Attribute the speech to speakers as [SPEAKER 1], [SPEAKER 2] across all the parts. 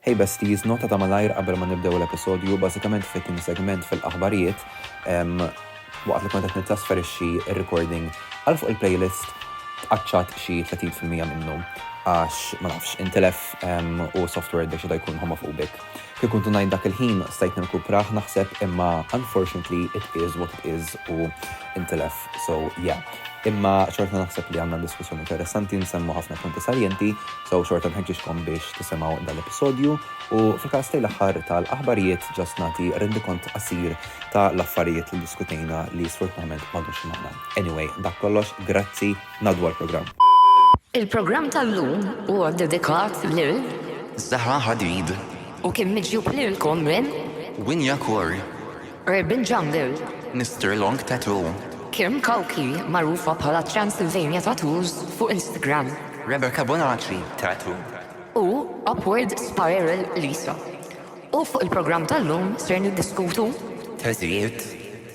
[SPEAKER 1] Hey besties, nota ta' malajr qabel ma nibdew l-episodju, bażikament fl-itni segment fil-aħbarijiet, waqt li kont qed nittrasferixxi r-recording għal fuq il-playlist, tqaċċat xi 30 fil-mija minnu għax, ma nafx, intilef u s-software ddeċieda jkun homophobic. Kien kuntu ngħid dak il-ħin stajt nirkuprah naħseb imma unfortunately it is what it is u intilef. So yeah. Imma xorta naħseb li għandna diskussjoni interessanti, nsemmu ħafna punti saljenti, so xorta nħeġġiġkom biex tisimgħu dal-episodju u fil-każ tiegħi l-aħħar tal-aħbarijiet ġast nagħti rendikont qasir ta' l-affarijiet li ddiskutejna li sfortunatament m'għadux magħna. Anyway, dak kollox, grazzi, ngħaddu għall-programm. Il-programm
[SPEAKER 2] tal-lum huwa ddedikat lil. Zahra
[SPEAKER 3] Hadid. U kien miġjub
[SPEAKER 2] lilkom minn. Winja Corr.
[SPEAKER 3] Urban
[SPEAKER 2] Jungle. Mister Long
[SPEAKER 3] Tattoo. Kim Kalki,
[SPEAKER 2] magħrufa bħala Transylvania Tattoos fuq Instagram. Rebecca Bonacci
[SPEAKER 3] Tattoo. U
[SPEAKER 2] Upward Spiral Lisa. U fuq il-programm tal-lum ser niddiskutu Teżijiet,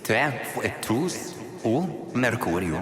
[SPEAKER 3] te fuq it-tus u Merkurju.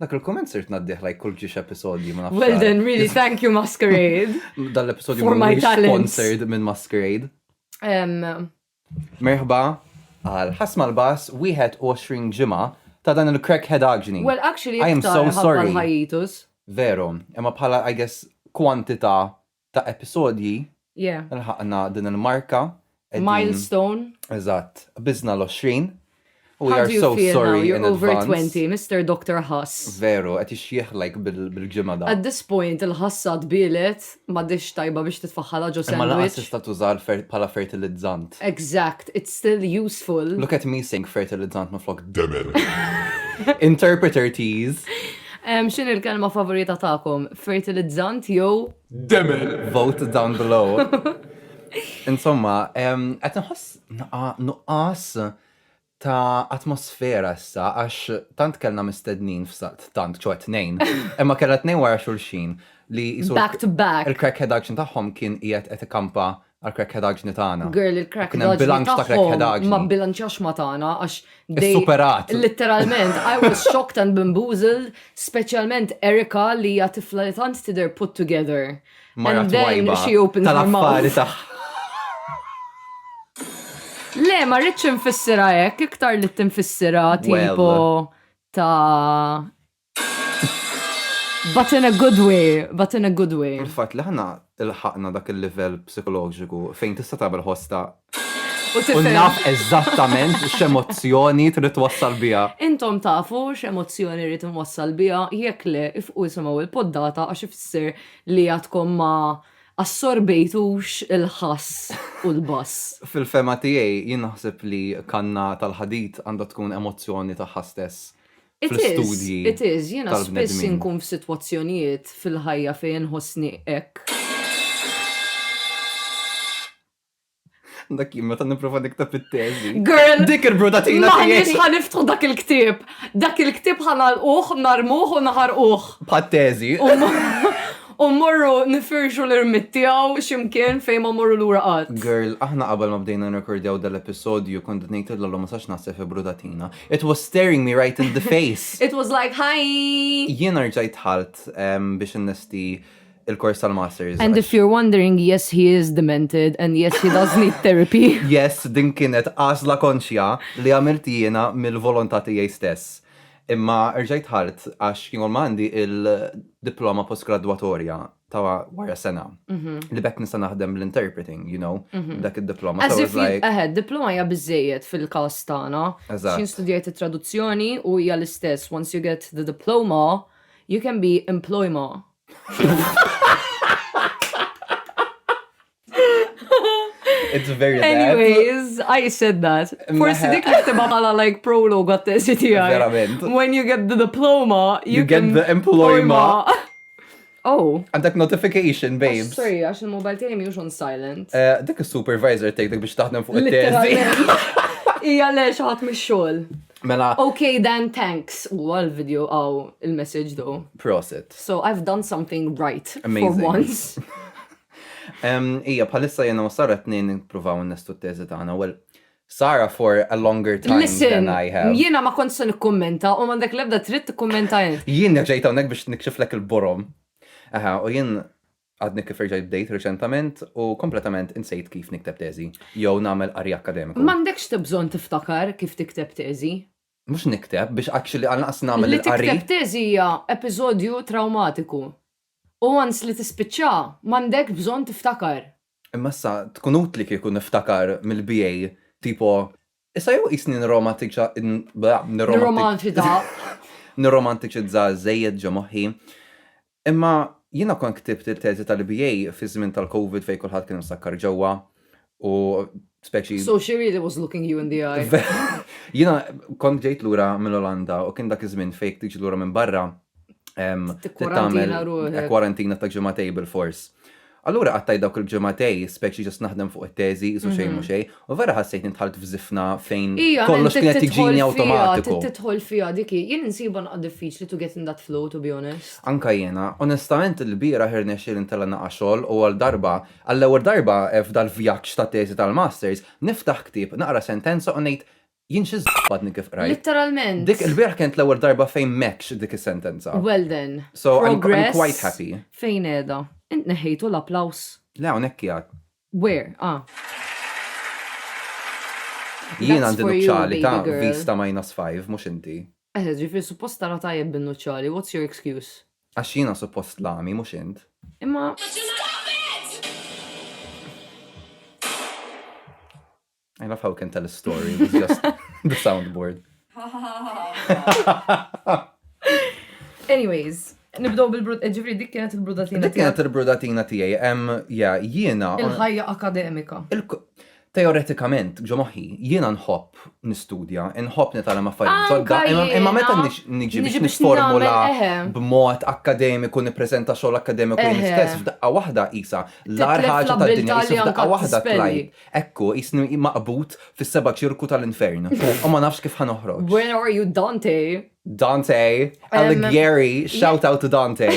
[SPEAKER 1] Dak il-komment sirt ngħaddih like kull ġiex episodju ma nafx. Well għal. then, really, thank you
[SPEAKER 4] Masquerade. Dan l-episodju For my
[SPEAKER 1] mhuwiex talents.
[SPEAKER 4] sponsored minn Masquerade.
[SPEAKER 1] Em,
[SPEAKER 4] Merħba
[SPEAKER 1] għal ħasma l-bas 21 ġimgħa ta' dan il-crackhead agni. well, actually, I am iktar so
[SPEAKER 4] ħabba sorry.
[SPEAKER 1] l-hiatus.
[SPEAKER 4] Veru,
[SPEAKER 1] imma bħala, I guess, kwantità ta' episodji Yeah. lħaqna
[SPEAKER 4] din
[SPEAKER 1] il-marka. qegħdin- Milestone.
[SPEAKER 4] Eżatt,
[SPEAKER 1] qbiżna l-20 u we How are do you so feel now? sorry You're in over
[SPEAKER 4] advance.
[SPEAKER 1] 20,
[SPEAKER 4] Mister
[SPEAKER 1] Doctor
[SPEAKER 4] Ħass. Veru, qed ixjieħ
[SPEAKER 1] like bil- bil-ġimgħa da. At this point il-ħassa
[SPEAKER 4] tbielet, m'għadhiex tajba biex titfaħħalha ġo Imma lanqas sandwich. tista' tuża
[SPEAKER 1] l-fer-
[SPEAKER 4] bħala
[SPEAKER 1] fertilizzant. Exact, it's
[SPEAKER 4] still useful. Look at me saying
[SPEAKER 1] fertilizzant minflok demer. Interpreter tease. Em, X'in
[SPEAKER 4] il-kelma favorita tagħkom? fertilizzant jew demel. Vote
[SPEAKER 1] down below. Insomma, qed nħoss nuqqas ta' atmosfera issa għax tant kellna mistednin f'salt tant ċo tnejn, imma kellha tnejn wara xulxin li back to back. Il-crackhead
[SPEAKER 4] action tagħhom
[SPEAKER 1] kien qiegħed qed ikampa għal krekkedaġni tagħna. Girl, il-krekkedaġni
[SPEAKER 4] tagħhom
[SPEAKER 1] ma bilanċax ma
[SPEAKER 4] tagħna għax dej. Superat.
[SPEAKER 1] Literalment,
[SPEAKER 4] I was shocked and bamboozled, speċjalment Erika li hija tifla li tant tidher put together. And then
[SPEAKER 1] she
[SPEAKER 4] opens her
[SPEAKER 1] mouth.
[SPEAKER 4] Le, ma rridx infissira hekk, iktar li tinfissira tipo ta' But in a good way, but in a good way. Il-fatt li aħna
[SPEAKER 1] lħaqna dak il-livell psikoloġiku fejn tista' tagħmel ħosta u naf
[SPEAKER 4] eżattament
[SPEAKER 1] x'emozzjoni trid twassal biha. Intom tafu
[SPEAKER 4] x'emozzjoni rrid inwassal biha, jekk le ifqu isimgħu il-poddata għax ifisser li għadkom ma assorbejtux il-ħass u l-bass. Fil-fehma tiegħi
[SPEAKER 1] jien naħseb li kanna tal-ħadid għandha tkun emozzjoni tagħha stess.
[SPEAKER 4] fl-istudji. It is,
[SPEAKER 1] jiena spiss
[SPEAKER 4] inkun
[SPEAKER 1] f'sitwazzjonijiet
[SPEAKER 4] fil-ħajja fejn inħossni hekk.
[SPEAKER 1] Dak jien meta nipprova nikteb it-teżi. Girl! Dik
[SPEAKER 4] il-brudatina tiegħi.
[SPEAKER 1] Maħniex ħaniftħu
[SPEAKER 4] dak
[SPEAKER 1] il-ktieb.
[SPEAKER 4] Dak il-ktieb ħanalquh, narmuh u naħarquh. Bħat teżi. U morru nifirxu l-irmit tiegħu x'imkien fejn ma morru lura qatt. Girl, aħna qabel ma
[SPEAKER 1] bdejna nirrekordjaw dal-episodju kont ngħid il-lollo ma sax naħseb fi brudatina. It was staring me right in the face. It was like, hi!
[SPEAKER 4] Jien rġajt
[SPEAKER 1] ħalt um, biex innesti il-kors tal-masters. And if you're wondering,
[SPEAKER 4] yes, he is demented and yes, he does need therapy. yes, din kienet
[SPEAKER 1] għazla konxja li għamilt jiena mill-volontà tiegħi stess. Imma rġajt ħalt għax kien għandi il-diploma postgradwatorja ta' wara sena. Mhm. Li bekk nista' naħdem l-interpreting, you know, mhm. dak id-diploma. So it's like. Eħe, diploma
[SPEAKER 4] hija
[SPEAKER 1] biżejjed
[SPEAKER 4] fil-każ tagħna. Eżatt. Xin studjajt
[SPEAKER 1] it-traduzzjoni
[SPEAKER 4] u hija l-istess. Once you get the diploma, you can be employma.
[SPEAKER 1] It's very bad. Anyways, I
[SPEAKER 4] said that. Forsi dik li tibqa bħala like prologue għat-tesi tiegħi. Verament. When you
[SPEAKER 1] get the
[SPEAKER 4] diploma, you,
[SPEAKER 1] you can...
[SPEAKER 4] get the employma. Oh. Għandek notification,
[SPEAKER 1] oh, babes. Sorry, għax il-mobile tiegħi
[SPEAKER 4] mhux on silent. Eh, dik is-supervisor
[SPEAKER 1] tgħidek biex taħdem fuq it-tesi. Ija
[SPEAKER 4] le xaħat mix-xogħol. Mela. Okay,
[SPEAKER 1] then
[SPEAKER 4] thanks. U għal-video għaw il-message do. Prosit. So
[SPEAKER 1] I've done
[SPEAKER 4] something right Amazing. for once.
[SPEAKER 1] Ija, bħalissa jena u Sara t-nejn nipruvaw n-nestu t-tezi tagħna. Well, Sara for a longer time Listen, than I have. Jiena ma
[SPEAKER 4] kontx
[SPEAKER 1] se
[SPEAKER 4] nikkummenta u m'għandek l-ebda trid tikkummenta int. Jien ġejt hawnhekk biex
[SPEAKER 1] nikxiflek il-borom. Aha, u jien għadni kif irġajt bdejt reċentament u kompletament insejt kif nikteb teżi. Jew nagħmel qari akademiku. M'għandekx tibżon
[SPEAKER 4] tiftakar kif tikteb teżi. Mhux nikteb
[SPEAKER 1] biex actually għal naqas nagħmel Li il-qari. tikteb teżi hija
[SPEAKER 4] episodju trawmatiku. U once li tispiċċa, m'għandekx bżonn tiftakar. Imma issa
[SPEAKER 1] tkun utli kieku niftakar mill-BA tipo Issa jew qisni nirromantiċa nirromantiċa. Nirromanċita. Nirromantiċizza żejjed ġo moħħi. Imma jiena kont ktibt il-teżi tal-BA fiż-żmien tal-Covid fejn kulħadd kien imsakkar ġewwa u speċi. So she really was
[SPEAKER 4] looking you in the eye. Jiena
[SPEAKER 1] kont ġejt lura mill-Olanda u kien dak iż-żmien fejn jekk tiġi lura minn barra trid
[SPEAKER 4] tagħmel kwarantina ta' ġimagħtejn
[SPEAKER 1] bilfors. Allura qattajt dawk il-ġimgħatej, speċi ġast naħdem fuq it-teżi, qisu xejn mhu xejn, u vera ħassejtni dħalt f'żifna fejn kollox kien qed jiġini awtomatiku. Tidħol fiha dik hi.
[SPEAKER 4] Jien insibha naqgħa diffiċli to get in that flow, to be honest. Anka jiena.
[SPEAKER 1] Onestament ilbieraħ irnexxieli ntella' naqa' xogħol u għal darba, għall-ewwel darba f'dal-vjaġġ tat-teżi tal-masters, niftaħ ktieb, naqra sentenza u ngħid, Jien xi żbadni kif qrajt. Litteralment. Dik ilbieraħ
[SPEAKER 4] kienet l-ewwel
[SPEAKER 1] darba fejn m'hekx dik is-sentenza. Well then. So
[SPEAKER 4] I'm quite
[SPEAKER 1] happy. Progress fejn qiegħda?
[SPEAKER 4] Int neħħejtu l-applaws? Le hawnhekk qiegħed.
[SPEAKER 1] Where? Ah. Jien għandi nuċċali ta'
[SPEAKER 4] vista
[SPEAKER 1] minus
[SPEAKER 4] five,
[SPEAKER 1] mhux inti. Eħe, ġifieri suppost
[SPEAKER 4] tara tajjeb bin-nuċċali, what's your excuse? Għax jiena suppost
[SPEAKER 1] l-għami, mhux int. Imma. I love how we can tell a story with just the soundboard.
[SPEAKER 4] Anyways, nibdow bil-brud, eh, ġifri dik kienet il-brudatina. Dik kienet il-brudatina
[SPEAKER 1] tijaj, em, ja, jiena. Il-ħajja akademika. Teoretikament, ġo moħi, jiena nħobb nistudja, nħobb nitgħallem affarijiet ġodda, imma meta niġi biex
[SPEAKER 4] nisformula
[SPEAKER 1] b'mod
[SPEAKER 4] akademiku,
[SPEAKER 1] nippreżenta xogħol akademiku jien stess, f'daqqa waħda isa, l-ar ħaġa tad-dinja jisif
[SPEAKER 4] daqqa
[SPEAKER 1] waħda tlajt. Hekk hu,
[SPEAKER 4] qisni
[SPEAKER 1] maqbud fis-seba' ċirku tal-infern, u ma nafx kif ħa noħroġ. Where are you Dante?
[SPEAKER 4] Dante!
[SPEAKER 1] Alighieri! Shout out to Dante!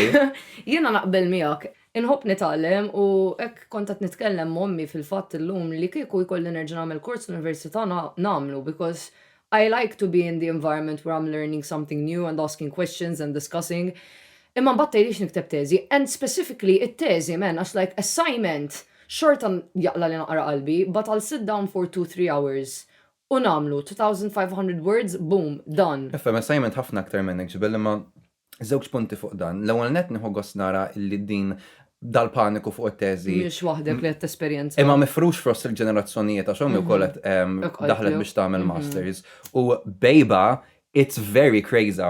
[SPEAKER 1] Jiena naqbel
[SPEAKER 4] miegħek. Inħobb nitgħallem u hekk kont qed nitkellem m'ommi fil-fatt illum li kieku jkolli nerġa' nagħmel kors fl-università nagħmlu because I like to be in the environment where I'm learning something new and asking questions and discussing imma mbagħad tgħidlix nikteb teżi and specifically it-teżi man għax like assignment xorta jaqla' li naqra qalbi but I'll sit down for two three hours u nagħmlu 2500 words boom done. Nifhem assignment ħafna
[SPEAKER 1] aktar minn hekk ġbel imma Żewġ punti fuq dan. L-ewwel nett nieħu gost nara li din dal-paniku fuq it-teżi. Mhux waħdek li qed
[SPEAKER 4] tesperjenza. Imma mifrux fost
[SPEAKER 1] il-ġenerazzjonijiet għax omm ukoll qed daħlet biex tagħmel masters. U bejba it's very crazy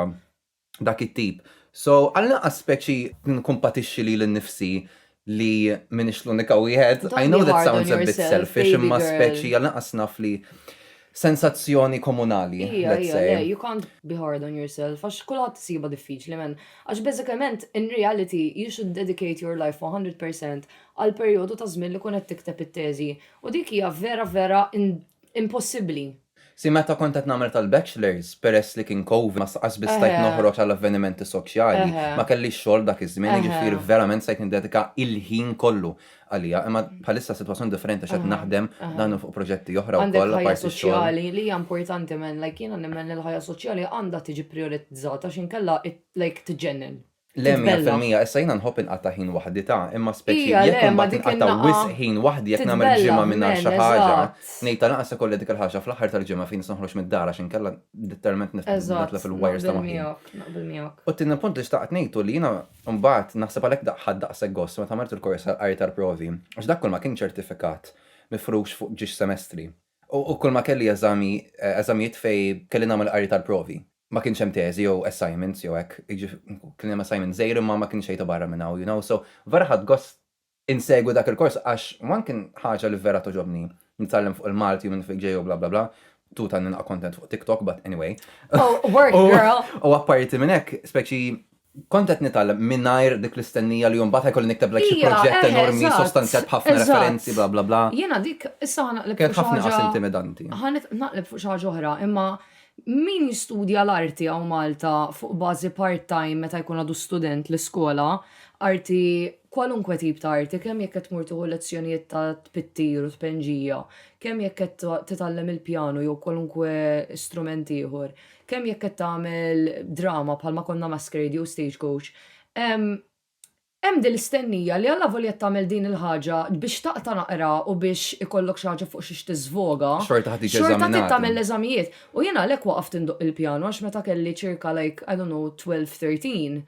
[SPEAKER 1] dak it-tip. So għall-inqas speċi nkumpatixxi lili nnifsi li minix l-unika wieħed. I know that sounds a bit selfish, imma speċi għal naqas naf li sensazzjoni komunali. Ija, ija, le, you can't be hard
[SPEAKER 4] on yourself, għax kullħat siba diffiċli, men. Għax bezzikament, in reality, you should dedicate your life 100% għal periodu ta' zmin li kunet tikteb it-teżi. U dik hija vera, vera impossibli. Si meta
[SPEAKER 1] kont qed nagħmel tal-bachelors, peress li kien Covid ma sqas biss stajt noħroġ għal avvenimenti soċjali, ma kellix xogħol dak iż-żmien, jiġifieri verament stajt niddedika l-ħin kollu għaliha. Imma bħalissa s-sitwazzjoni differenti għax qed naħdem dan u fuq proġetti oħra wkoll apparti x-xogħol. Għandek ħajja soċjali
[SPEAKER 4] li hija
[SPEAKER 1] importanti
[SPEAKER 4] man, like jiena nemmen li l-ħajja soċjali għandha tiġi prijoritizzata għax inkella like tiġġennen. Le, mija Titbellagħ. fil-mija,
[SPEAKER 1] issa jiena nħobb inqatta' ħin waħdi ta', imma speċi Ija, jekk le, ma imbagħad dik inqatta' in-nagħqa wisq
[SPEAKER 4] ħin
[SPEAKER 1] waħdi
[SPEAKER 4] jekk nagħmel
[SPEAKER 1] titbellagħ, ġimgħa mingħajr men, xi ħaġa, eżatt. ngħid
[SPEAKER 4] ta'
[SPEAKER 1] lanqas
[SPEAKER 4] ikolli dik
[SPEAKER 1] il-ħaġa fl-aħħar tal-ġimgħa fejn nista' noħroġ mid-dar għax inkella litteralment nif- Eżatt, nitlef il-wires ta' naqbel moħħi. miegħek, naqbel miegħek. U
[SPEAKER 4] t-tieni punt li xtaqt ngħid
[SPEAKER 1] hu li jiena mbagħad naħseb għalhekk da- ħadt daqshekk gost meta għamilt il-kors tal-qari tal-provi, għax dak kollu ma kien ċertifikat mifrux fuq ġiex semestri. U kull ma kelli eżami, eżamijiet fejn kelli nagħmel qari tal-provi. Ma kienx hemm teżi jew assignments jew hekk, kien hemm assignment żgħir imma ma kienx xejn ta' barra minn hawn, you know, so vera ħadt gost insegwi dak il-kors għax one kien ħaġa li vera togħġobni, nitgħallem fuq il-Malti u minn fejn ġej u bla bla bla, tuta nilqa' content fuq TikTok but anyway. Oh, work girl! U apparti minn hekk,
[SPEAKER 4] speċi
[SPEAKER 1] Kont qed nitgħallem mingħajr dik l-istennija li mbagħad ħa jkolli nikteb like xi proġett enormi
[SPEAKER 4] sostanzjat
[SPEAKER 1] b'ħafna
[SPEAKER 4] referenzi
[SPEAKER 1] bla bla bla. Jiena dik issa ħa naqleb
[SPEAKER 4] fuq xi ħaġa. Kienet ħafna inqas intimidanti.
[SPEAKER 1] Ħa naqleb fuq xi
[SPEAKER 4] ħaġa oħra, imma min jistudja l-arti hawn Malta fuq bażi part time meta jkun għadu student l-iskola, arti kwalunkwe tip ta' arti, kemm jekk qed tmur tieħu lezzjonijiet ta' tpittir u tpenġija, kemm jekk qed titgħallem il-pjanu jew kwalunkwe strument ieħor, kemm jekk qed tagħmel drama bħalma konna Masquerade jew Stagecoach, hemm din l-istennija li allavolja qed tagħmel din il-ħaġa biex taqta' naqra u biex ikollok xi ħaġa fuq xiex tiżvoga, Xorta ħad tiġi xorta trid
[SPEAKER 1] eżaminata. tagħmel
[SPEAKER 4] l-eżamijiet. U jiena għalhekk waqaft indoqq il-pjanu għax meta kelli ċirka like, I don't know, 12, 13,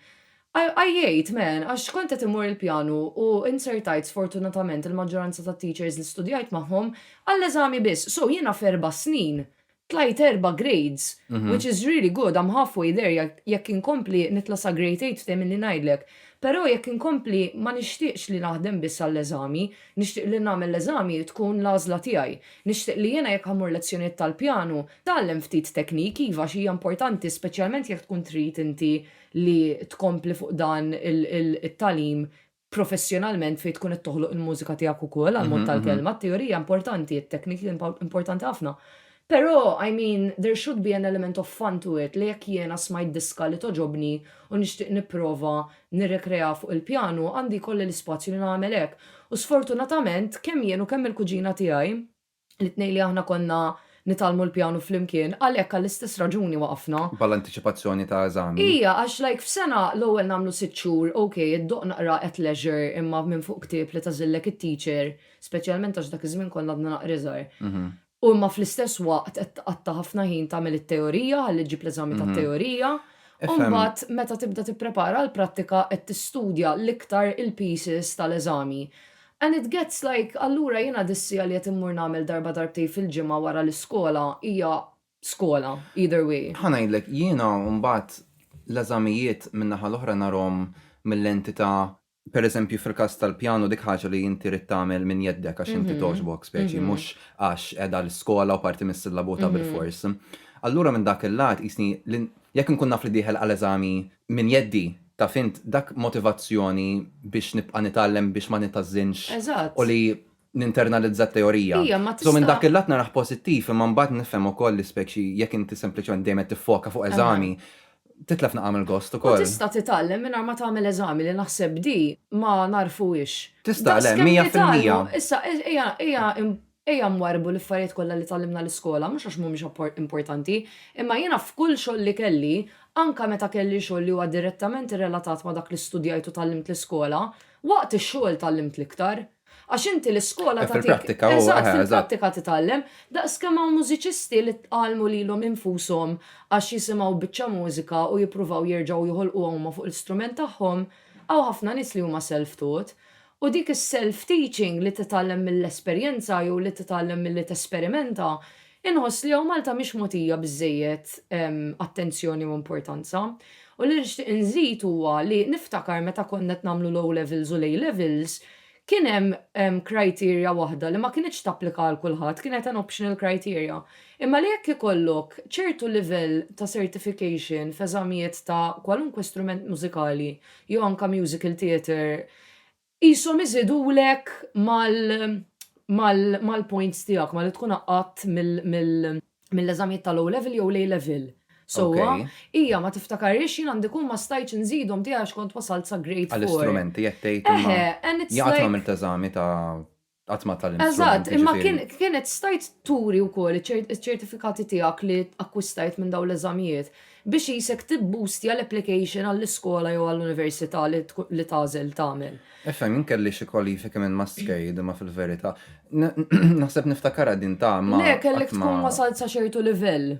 [SPEAKER 4] għaj- għajjejt, man, għax kont qed immur il-pjanu u inzertajt sfortunatament il-maġġoranza tat-teachers li studjajt magħhom għall-eżami biss. So jiena f'erba' snin Tlajt erba' grades, which is really good, I'm half way there, jekk inkompli nitla' sa grade eight ftehimilni ngħidlek. Però jekk inkompli ma nixtieqx li naħdem biss għall-eżami, nixtieq li nagħmel l-eżami tkun l-għażla tiegħi. Nixtieq li jiena jekk ħa mmur lezzjonijiet tal-pjanu, tgħallem ftit tekniki, iva għax hija importanti speċjalment jekk tkun trid inti li tkompli fuq dan it-tagħlim, professjonalment fejn tkun qed toħloq il-mużika tiegħek ukoll għall-mod tal-kelma, t-teorija importanti, it-tekniki importanti ħafna. Però, I mean, there should be an element of fun to it li jekk jiena smajt diska li togħġobni u nixtieq nipprova nirrekreaha fuq il-pjanu, għandi jkolli l-ispazju li nagħmel hekk. U sfortunatament, kemm jien u kemm il-kuġina tiegħi, L-itnejn li aħna konna nitgħallmu l-pjanu flimkien, għalhekk għall-istess raġuni waqafna. Bħala antiċipazzjoni ta'
[SPEAKER 1] eżami? Ija, għax like f'sena
[SPEAKER 4] l-ewwel nagħmlu sitt xhur, ok, iddoqq naqra at leisure imma minn fuq ktieb li tagħżillek it-teacher, speċjalment għax dak iż-żmien konna għadna naqra iżgħar. U imma fl-istess waqt qed tqatta' ħafna ħin tagħmel it-teorija ħalli ġġib l-eżami tat-teorija. U mbagħad meta tibda tipprepara għall-prattika qed tistudja l-iktar il-pieces tal-eżami. And it gets like allura jiena dissija li qed immur nagħmel darba darbtejn fil-ġimgħa wara l-iskola hija skola either way. Ħa ngħidlek, jiena
[SPEAKER 1] mbagħad l-eżamijiet min-naħa l-oħra narhom mil-lenti ta' per eżempju fil-każ tal-pjanu dik ħaġa li inti rrid tagħmel minn jeddek għax inti togħġbok speċi mhux għax qiegħda l-iskola u parti mis-sillabu ta' bilfors. Allura minn dak il-lat qisni li jekk inkun naf li dieħel għal eżami minn jeddi taf int, dak motivazzjoni biex nibqa' nitgħallem biex ma nithażżinx u li ninternalizza t-teorija. So minn dak il-lat narah pożittiv imma mbagħad nifhem ukoll li speċi jekk inti sempliċement dejjem qed tiffoka fuq eżami, titlef naqra mill-gost ukoll. U tista' titgħallem mingħajr
[SPEAKER 4] ma tagħmel eżami li naħseb di ma nagħrfuhiex. Tista' le, mija
[SPEAKER 1] fil-mija. Issa ejja
[SPEAKER 4] Ejja nwarrbu l-affarijiet kollha li tgħallimna l-iskola, mhux għax mhumiex importanti, imma jiena f'kull xogħol li kelli, anke meta kelli xogħol li huwa direttament irrelatat ma' dak li studjajt u tgħallimt l-iskola, waqt ix-xogħol tgħallimt l-iktar. Għax inti l-iskola tagħtik. Fil-prattika huwa. Eżatt,
[SPEAKER 1] fil-prattika
[SPEAKER 4] titgħallem. Daqskemm hawn mużiċisti li tgħallmu lilhom infushom għax jisimgħu biċċa mużika u jippruvaw jerġgħu joħolquha huma fuq l-istrument tagħhom, hawn ħafna nies li huma self-taught. U dik is-self teaching li titgħallem mill-esperjenza jew li titgħallem milli tesperimenta, inħoss li hawn Malta mhix mogħtija biżżejjed attenzjoni u importanza. U li nixtieq inżid huwa li niftakar meta konna qed nagħmlu l-O Levels u l-A Levels, kien hemm criteria waħda li ma kinitx tapplika għal kulħadd, kienet an optional criteria. Imma li jekk ikollok ċertu livell ta' certification f'eżamijiet ta' kwalunkwe strument mużikali jew anke musical theatre, Qishom iżidulek mal-points tiegħek, ma li tkun għaqqadt mill-eżamijiet tal-O Level jew l-A Level. Sewwa? Hija ma tiftakarhiex, jien għandi kun ma stajtx inżidhom tiegħi għax kont wasalt sa grade four. Għall-istrumenti qed tgħid
[SPEAKER 1] imma jagħtuhom il-teżami ta' Qatt ma tallimt Eżatt, strumenti, imma kien ġifieri.
[SPEAKER 4] kienet stajt turi wkoll iċ-ċert- iċ-ċertifikati tiegħek li akkwistajt minn dawn l-eżamijiet biex qisek tibboostja l-application għall-iskola jew għall-università li tkun li tagħżel tagħmel. Ifhem, jien kelli xi
[SPEAKER 1] kwalifiki minn Muscade imma fil-verità n- naħseb niftakarha din ta' imma Le, kellek qatt ma tkun wasalt
[SPEAKER 4] sa ċertu livell.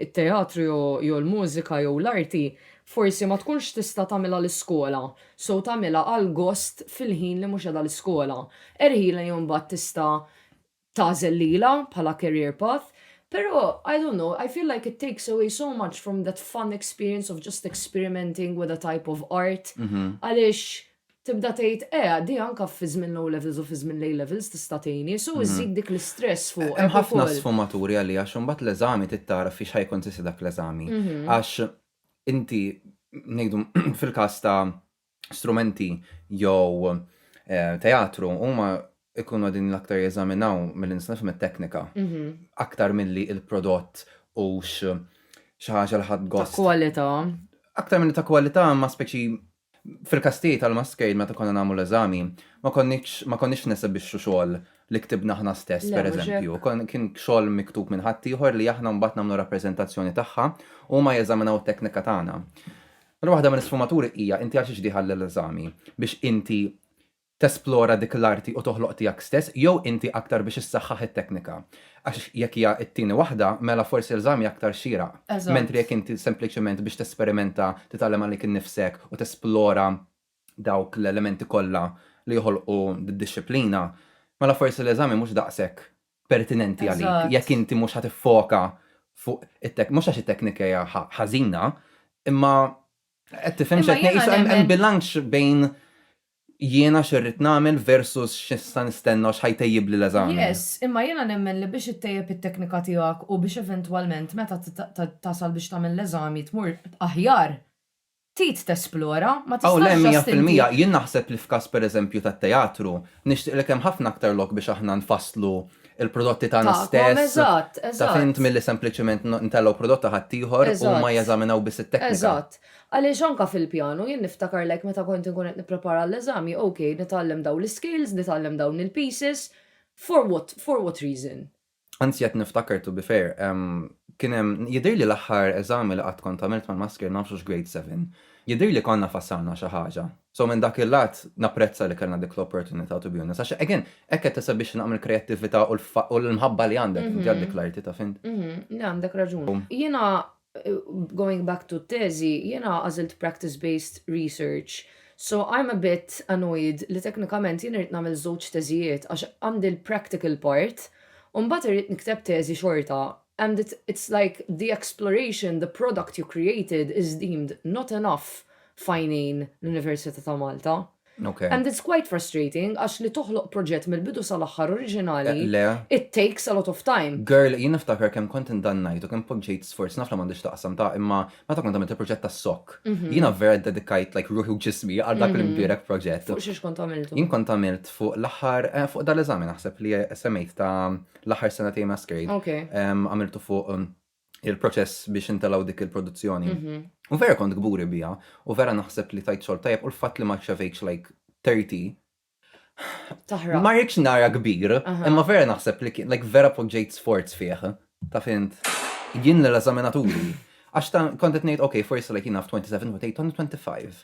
[SPEAKER 4] It-teatru jew il-mużika jew l-arti forsi ma tkunx tista' tagħmilha l-iskola, so tagħmilha għall-gost fil-ħin li mhux qiegħda l-iskola. Erħilha jew imbagħad tista' tagħżel lilha bħala career path. Però, I don't know, I feel like it takes away so much from that fun experience of just experimenting with a type of art għaliex tibda tgħid eh għaddi anke fi żmien l-O Levels u fi żmien l-A Levels tista' tgħinni, so iżżid dik l-istress fuqek ukoll. Hemm ħafna sfumaturi
[SPEAKER 1] għalija għax imbagħad l-eżami trid tara f'xiex ħa jikkonsisti dak l-eżami. Għax inti ngħidu fil-każ ta' strumenti jew teatru huma jkunu qegħdin l-aktar jeżaminaw milli nista' nifhem it-teknika aktar milli l-prodott hux xi ħaġa li ħadd gost. Ta' kwalità.
[SPEAKER 4] Aktar milli ta' kwalità imma
[SPEAKER 1] speċi Fil-każ tiegħi tal-Muscade meta konna nagħmlu l-eżami, ma konniex ma konniex nesebixxu xogħol li ktibna aħna stess, Le, mhux pereżempju. hekk. Kon kien xogħol miktub minn ħaddieħor li aħna mbagħad nagħmlu rappreżentazzjoni tagħha u huma jeżaminaw it-teknika tagħna. Mela waħda mill-isfumaturi hija inti għalxiex dieħal l-eżami? Biex inti tesplora dik l-arti u toħloq tiegħek stess jew inti aktar biex issaħħaħ it-teknika? Għax jekk hija t-tieni waħda, mela forsi l-eżami aktar xieraq. Mentri jekk inti sempliċement biex tesperimenta, titgħallem għalik innifsek u tesplora dawk l-elementi kollha li joħolqu d-dixxiplina, mela forsi l-eżami mhux daqshekk pertinenti għalik jekk inti mhux ħa tiffoka fuq it-teknika. Mhux għax it-teknika hija ħażina, imma qed tifhem x'qed ngħid? Hemm bilanċ bejn jiena x'irrid nagħmel versus x'nista' nistenna u x'ħajtejjibli l-eżami. Yes, imma jiena
[SPEAKER 4] nemmen li biex ittejjeb it-teknika tiegħek u biex eventwalment meta tasal biex tagħmel l-eżami tmur aħjar, trid tesplora, ma tistax just inti. Aw le, mija fil-mija, jien
[SPEAKER 1] naħseb li f'każ pereżempju tat-teatru, nixtieqlek hemm ħafna aktar lok biex aħna nfasslu l-prodotti tagħna stess, taf int,
[SPEAKER 4] milli
[SPEAKER 1] sempliċement nitellgħu prodott ta' ħaddieħor u huma jeżaminaw biss it-teknika. Eżatt, eżatt. Għaliex
[SPEAKER 4] anke fil-pjanu, jien niftakar like meta kont inkun qed nipprepara għall-eżami, ok, nitgħallem dawn l-iscales, nitgħallem dawn il-pieces, for what, for what reason? Anzi qed
[SPEAKER 1] niftakar to be fair, kien hemm, jidhirli l-aħħar eżami li qatt kont għamilt mal-maskir nafx hux grade seven, jidhirli konna fassalna xi ħaġa. So minn dak il-lat napprezza li kellna dik l-opportunità to be honest, għax again, hekk qed tista' biex tnaqqam il-kreattività u l-mħabba li għandek inti għal dik l-arti, taf int. Mhmm, le għandek raġun.
[SPEAKER 4] Jiena Going back to t-teżi, jiena għażilt practice based research, so I'm a bit annoyed li teknikament jien irrid nagħmel żewġ teżijiet għax għandi l-practical part u mbagħad irrid nikteb teżi xorta and it it's like the exploration, the product you created is deemed not enough f'għajnejn l-Università ta' Malta. And it's
[SPEAKER 1] quite
[SPEAKER 4] frustrating għax li toħloq proġett mill-bidu sal-aħħar oriġinali it takes a lot of time. Girl, jien niftakar kemm
[SPEAKER 1] kont indannajt u kemm poġġejt sforz naf li m'għandux x'taqsam ta' imma meta kont għamilt il-proġett tas-sokk. Jiena vera ddedikajt like ruħi u ġismi għal dak l-imbierek proġett. Fuq xiex kont għamiltu? Jien
[SPEAKER 4] kont għamilt fuq
[SPEAKER 1] l-aħħar, fuq dal-eżami naħseb li semmejt ta' l-aħħar sena tiegħi Masquerade. Għamiltu
[SPEAKER 4] fuq.
[SPEAKER 1] il-proċess biex intalaw dik il-produzzjoni. Mhm. U vera kont gburi bija, u vera naħseb li tajt xol tajab, u l-fat li maċċavejċ like 30. Taħra.
[SPEAKER 4] Ma rridx nara
[SPEAKER 1] kbir, imma vera naħseb li kien, like vera poġġejt sforz fih, ta' fint. Jien l-eżaminaturi. Għax ta' kontet nejt, ok, forse like jina 27, 28, 25.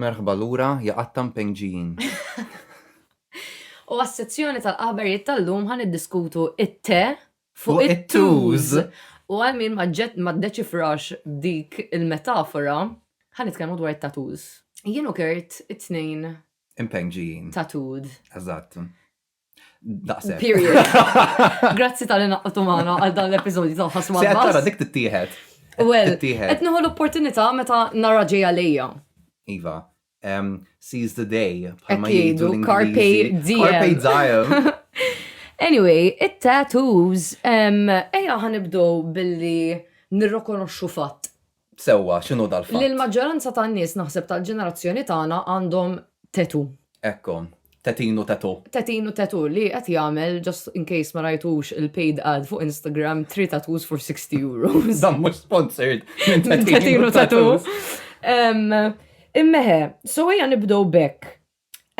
[SPEAKER 1] Merħba lura, ja qattan peng ġijin.
[SPEAKER 4] U għas-sezzjoni tal-aħbarijiet tal-lum ħa niddiskutu it-te fuq
[SPEAKER 1] it-tuż.
[SPEAKER 4] U għal
[SPEAKER 1] min
[SPEAKER 4] ma ddeċifrax dik il-metafora, ħa nitkellmu dwar it-tattoos. Jien u Kurt it-tnejn. Impenġijin.
[SPEAKER 1] Tattooed.
[SPEAKER 4] Eżatt.
[SPEAKER 1] Daqsek. Period.
[SPEAKER 4] Grazzi tal-li naqqtu maħna għal dan l-episodju ta' ħasma. Se għattara dik tittieħed.
[SPEAKER 1] Well,
[SPEAKER 4] qed nieħu
[SPEAKER 1] l-opportunità
[SPEAKER 4] meta nara ġej għalija. Iva,
[SPEAKER 1] um, seize the day. Bħalma jgħidu
[SPEAKER 4] Carpe diem. Carpe diem.
[SPEAKER 1] Anyway,
[SPEAKER 4] it-tattoos, um, eja ħanibdow billi nirrokonoxxu fatt.
[SPEAKER 1] sewwa x'inhu dal-fatt. Li l-maġġoranza tan-nies
[SPEAKER 4] naħseb tal-ġenerazzjoni tagħna għandhom tattoo. Ekku,
[SPEAKER 1] tetin u tattoo. Tetin u tattoo li
[SPEAKER 4] qed jagħmel, just in case ma rajtux il-paid ad fuq Instagram, three tattoos for 60 euros. Dan mhux sponsored
[SPEAKER 1] minn tetin u
[SPEAKER 4] tattoo. Imma eħe, so ejja nibdew b'hekk.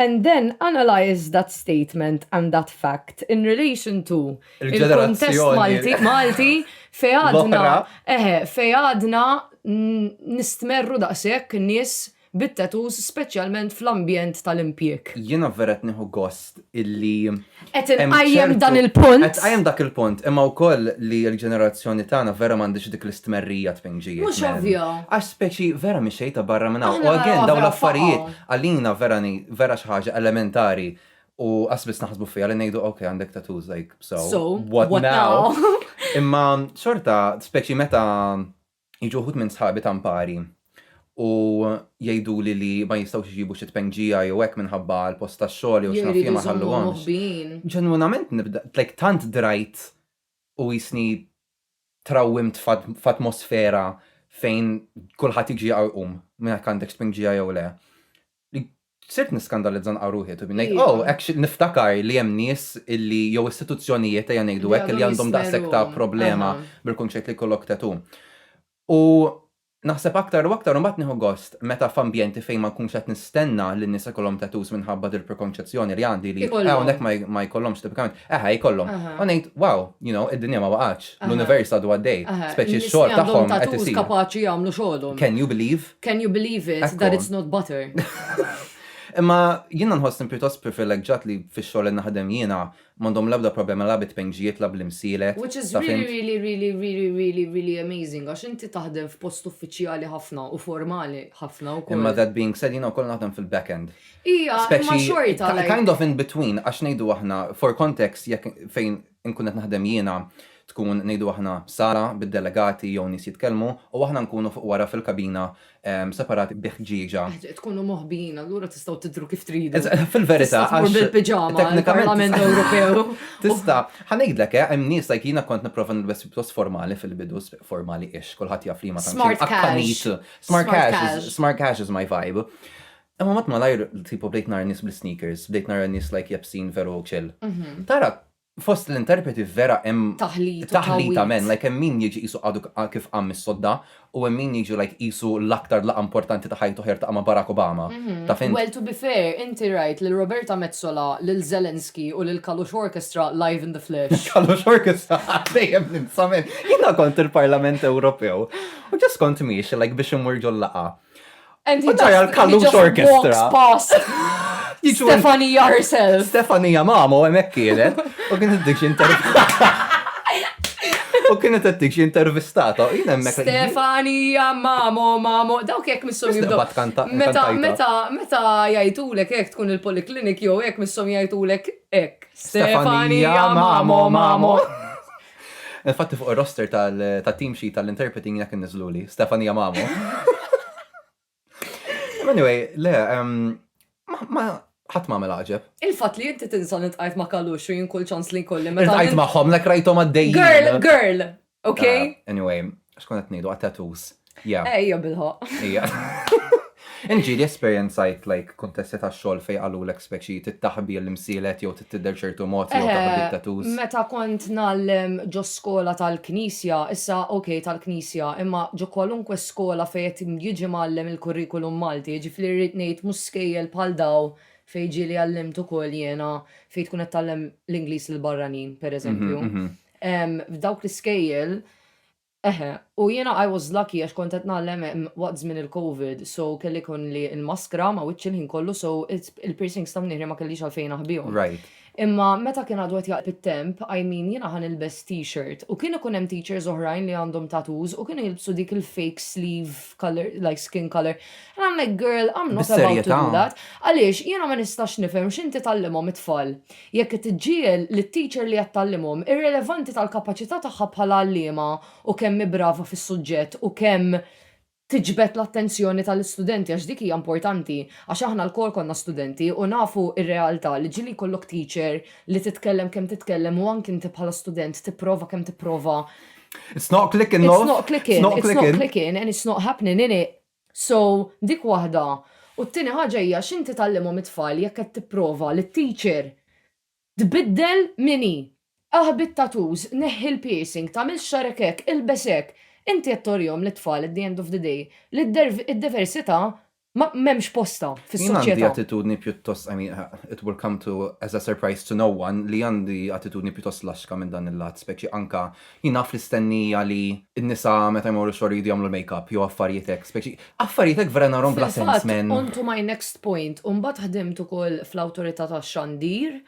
[SPEAKER 4] and then analyse that statement and that fact in relation to il-ġenerazzjoni Malti fejn għadna eħe fejn għadna nistmerru daqshekk nies bit-tattoos speċjalment fl-ambjent tal-impjieg. Jiena vera qed nieħu
[SPEAKER 1] gost illi Qed inqajjem
[SPEAKER 4] dan il-punt. Qed tqajjem dak il-punt,
[SPEAKER 1] imma wkoll li l-ġenerazzjoni tagħna vera m'għandhiex dik l-istmerrija tfejn ġiet. Mhux ovvja. Għax
[SPEAKER 4] speċi vera
[SPEAKER 1] mhix xejn ta' barra minn hawn. U again dawn l-affarijiet
[SPEAKER 4] għalina
[SPEAKER 1] vera vera xi ħaġa elementari u qass biss naħsbu fiha li ngħidu ok għandek tattoos like so what now. Imma xorta speċi meta Jiġu wħud minn sħabi ta' mpari u jgħiduli li ma jistgħux iġibu xi tpengġija jew hekk minħabba l-post tax-xogħol jew x'naf jien ma jħalluhomx. Ġenwinament nibda, like tant drajt u qisni trawwimt f'atmosfera fejn kulħadd jiġi u jqum minn jekk għandek tpengġija jew le. sirt niskandalizza nqa' ruħi to be like, Iva. oh, actually niftakar li hemm nies illi jew istituzzjonijiet ejja ngħidu Li hekk li għadhom għandhom jismeru, daqshekk ta' problema aha. bil-kunċett li jkollok tattoo. U naħseb aktar u aktar u mbagħad nieħu gost meta f'ambjenti fejn ma nkunx qed nistenna li n-nisa jkollhom tattoos minħabba dil-prekonċezzjoni li għandi li Ikollhom. hawnhekk ma ma jkollhomx tipikament, eħe jkollhom. Aha. U ngħid, wow, you know, id-dinja ma waqgħatx, Aha. l-univers għadu għaddej, Aha, speċi in-nies li x-xogħol għandhom tagħhom qed tattoos isir. kapaċi jagħmlu xogħolhom.
[SPEAKER 4] Can you believe? Can
[SPEAKER 1] you believe it, Ekku. that it's not
[SPEAKER 4] butter? Imma
[SPEAKER 1] jiena nħossni pjuttost privileġġat li fix-xogħol li naħdem jiena m'għandhom l-ebda problema la bit-tpinġijiet la bl-imsielet. Which is taf really, int. really,
[SPEAKER 4] really, really, really, really amazing għax inti taħdem f'post uffiċjali ħafna u formali ħafna wkoll. Imma that being said, jiena wkoll
[SPEAKER 1] naħdem fil-back end. Ija, imma Speċi
[SPEAKER 4] xorta ki- like. kind of in between,
[SPEAKER 1] għax ngħidu aħna, for context, jekk fejn inkun qed naħdem jiena, tkun, ngħidu aħna, sala bid-delegati jew nies jitkellmu u aħna nkunu fuq wara fil-kabina separati bi ħġieġa. Tkunu moħbijin,
[SPEAKER 4] allura tistgħu tidhru kif tridu. Eżatt, fil-verità, Tista' tmur għax
[SPEAKER 1] bil-piġama
[SPEAKER 4] teknikament- għall-Parlament Ewropew. Tista', ħa
[SPEAKER 1] ngħidlek, eh, hemm nies like jiena kont nipprova nilbes pjuttost formali fil-bidu, s- formali-ish, kulħadd jaf liema tantx Smart imqaqqaniet. cash. Smart Smart cash is, cash. smart cash is my vibe. Imma mat malajr tipo bdejt nara nies bl-sneakers, bdejt nara nies like jebsin veru chill. Tara fost l-interpreti vera hemm taħlita men, like hemm min jiġi qisu għadu kif qam mis-sodda u hemm min jiġu like qisu l-aktar laqgħa importanti ta' ħajtu ħa jertaqa' ma' Barack Obama. Taf int? Well to be
[SPEAKER 4] fair, inti rajt lil Roberta Metsola, lil Zelensky u lil Kalush Orchestra live in the flesh. Kalush Orchestra
[SPEAKER 1] dejjem ninsa men. Jiena kont il-Parlament Ewropew u ġust kont miexi like biex immur ġol-laqgħa. U
[SPEAKER 4] tara l-Kallux Orchestra. Stefania herself. Stefania mamo
[SPEAKER 1] hemmhekk kienet u kienet dik intervistata. U kienet qed dik intervistata u jien hemmhekk.
[SPEAKER 4] Stefania mamo mamo dawk jekk missom jibdew. Meta meta meta jgħidulek hekk tkun il-poliklinik jew hekk missom jgħidulek hekk. Stefania mamo mamo.
[SPEAKER 1] Infatti fuq ir-roster tat-team sheet tal-interpreting jekk inniżluli, Stefania Mamo. Anyway, le, ma ħadd ma għamel għaġeb. Il-fatt li inti tinsa
[SPEAKER 4] li tqajt ma' kalux u jien kull ċans li jkolli meta. Tqajt magħhom lek
[SPEAKER 1] rajthom għaddejjin. Girl, girl,
[SPEAKER 4] okay? Ah, anyway,
[SPEAKER 1] Xkun qed ngħidu għat-tattoos. Yeah. Ejja bil-ħoq.
[SPEAKER 4] Ejja.
[SPEAKER 1] Inġili esperjenzajt like kontesti ta' xogħol fej għalu l speċi tittaħbi l-imsielet jew tidder ċertu mod jew taħbi eh, tattoos. Meta kont
[SPEAKER 4] nallem ġo skola tal-knisja, issa ok tal-knisja, imma ġo kwalunkwe skola fej qed jiġi mallem il-kurrikulum Malti, ġifli rrid ngħid mhux skejjel bħal daw fej ġieli għallimt ukoll jiena fej tkun qed tallem l-Ingliż l-barranin, pereżempju. Mhm, mhm. F'dawk l-iskejjel Eħe, u jiena I was lucky għax kont qed ngħallem hemm waqt żmien il-Covid so kelli jkollni l-maskra ma' wiċċi l-ħin kollu so il-piercings ta' mniħri ma kellix għalfejn aħbihom. Imma
[SPEAKER 1] meta kien
[SPEAKER 4] għadu qed jaqrab it-temp I mean jiena ħa nilbes t-shirt u kien ikun hemm teachers oħrajn li għandhom tattoos u kienu jilbsu dik il-fake sleeve colour like skin colour and I'm like girl I'm not about to do that. Għaliex jiena ma nistax nifhem x'inti tgħallimhom it-tfal. Jekk qed iġġiegħel lit-teacher li qed tgħallimhom irrelevanti tal-kapaċità tagħha bħala għalliema u kemm hi brava fis-suġġett u kemm tiġbed l-attenzjoni tal-istudenti għax dik hija importanti għax aħna lkoll konna studenti u nafu r-realtà li ġieli jkollok teacher li titkellem kemm titkellem u anki inti bħala student tipprova kemm tipprova It's
[SPEAKER 1] not clicking, love. It's
[SPEAKER 4] not clicking. It's not
[SPEAKER 1] clicking. It's
[SPEAKER 4] not clicking
[SPEAKER 1] and it's
[SPEAKER 4] not happening, innit? So, dik waħda. U t-tieni ħaġa hija x'inti tgħallimhom it-tfal jekk qed tipprova li t-teacher tbiddel min hi. Aħbi t-tattoos, neħħi l-piercing, tagħmilx xagħrek hekk, ilbes hekk. Inti qed torihom lit-tfal at the end of the day li d-diversità ma m'hemmx postha fis-soċjetà. Jien għandi attitudni
[SPEAKER 1] pjuttost,
[SPEAKER 4] I
[SPEAKER 1] mean, it will come to as a surprise to no one, li għandi attitudni pjuttost laxka minn dan il-lat, speċi anke Jien naf l-istennija li n-nisa meta jmorru x-xogħol iridu jagħmlu l-makeup jew affarijiet hekk speċi. Affarijiet hekk vera narhom bla sens, Fil-fatt, man. on to my next
[SPEAKER 4] point, u mbagħad ħdimt ukoll fl-Awtorità tax-Xandir.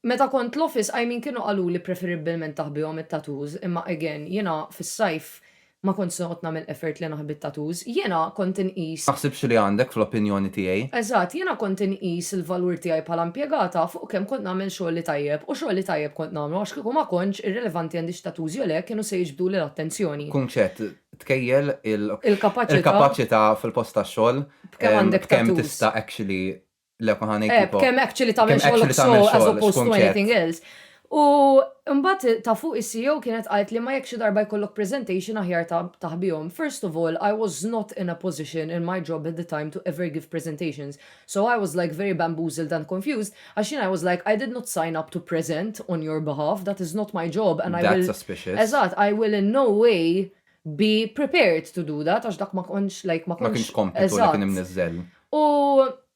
[SPEAKER 4] Meta kont l-office, I mean kienu qaluli preferibbilment aħbihom it-tattoos, imma again, jiena fis-sajf ma kontx noqgħod nagħmel effort li naħbi t-tattoos. Jiena kont inqis. Naħsibx li għandek
[SPEAKER 1] fl-opinjoni tiegħi. Eżatt, jiena kont
[SPEAKER 4] inqis il-valur tiegħi bħala impjegata fuq. u kemm kont nagħmel xogħli tajjeb, u xogħli tajjeb kont nagħmlu, għax kieku ma kontx, irrilevanti għandi x'tatuż jew le, kienu se jiġbduli l-attenzjoni. Kunċett,
[SPEAKER 1] Tkejjel
[SPEAKER 4] il-kapaċità fil-post tax-xogħol
[SPEAKER 1] b'kemm
[SPEAKER 4] tista' actually,
[SPEAKER 1] le ma ħa ngħid tipo. B'kemm actually tagħmel
[SPEAKER 4] xogħlok sew as
[SPEAKER 1] opposed
[SPEAKER 4] to anything
[SPEAKER 1] else. U
[SPEAKER 4] mbagħad ta' fuq is-CEO kienet qaltli ma jekk xi darba jkollok presentation aħjar taħbihom. First of all, I was not in a position in my job at the time to ever give presentations. So I was like very bamboozled and confused għax jien I was like I did not sign up to present on your behalf, that is not my job and I will That's suspicious. Eżatt, I will
[SPEAKER 1] in no
[SPEAKER 4] way be prepared to do that għax dak ma kontx like ma kontx. Ma kienx kompitu
[SPEAKER 1] li
[SPEAKER 4] kien imniżżel.
[SPEAKER 1] U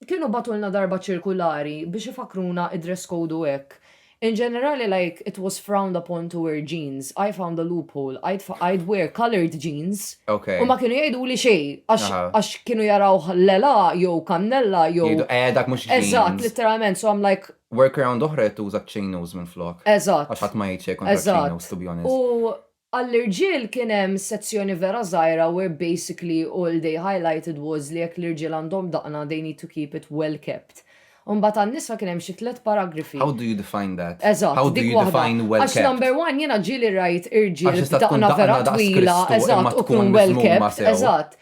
[SPEAKER 4] kienu bagħtulna darba ċirkulari biex ifakruna id-dress code u hekk. In ġenerali like it was frowned upon to wear jeans, I found a loophole, I'd I'd wear coloured jeans Ok. u ma kienu jgħiduli xejn għax Aha. għax kienu
[SPEAKER 1] jarawh
[SPEAKER 4] l-għela jew kannella jew Jgħidu, eh, dak mhux Eżatt,
[SPEAKER 1] jeans. litteralment,
[SPEAKER 4] so I'm
[SPEAKER 1] like,
[SPEAKER 4] Workaround oħra hija
[SPEAKER 1] tuża chinos minflok. Eżatt. Għax ħadd ma jgħid xejn
[SPEAKER 4] kontra
[SPEAKER 1] Eżatt. chinos, to be honest. U
[SPEAKER 4] Għall-irġiel kien hemm sezzjoni vera żgħira where basically all they highlighted was li jekk l-irġiel għandhom daqna they need to keep it well kept. Imbagħad għan-nisa kien hemm xi tliet paragrafi. How do you define that?
[SPEAKER 1] Eżatt, How do dik you waħda.
[SPEAKER 4] define
[SPEAKER 1] well Għax kept?
[SPEAKER 4] number
[SPEAKER 1] one jiena ġieli
[SPEAKER 4] rajt Għax irġiel tista' tkun b'daqna vera daqs
[SPEAKER 1] twila, Kristu imma
[SPEAKER 4] eżatt,
[SPEAKER 1] u tkun
[SPEAKER 4] tkun well
[SPEAKER 1] miżmuma kept,
[SPEAKER 4] sew. eżatt.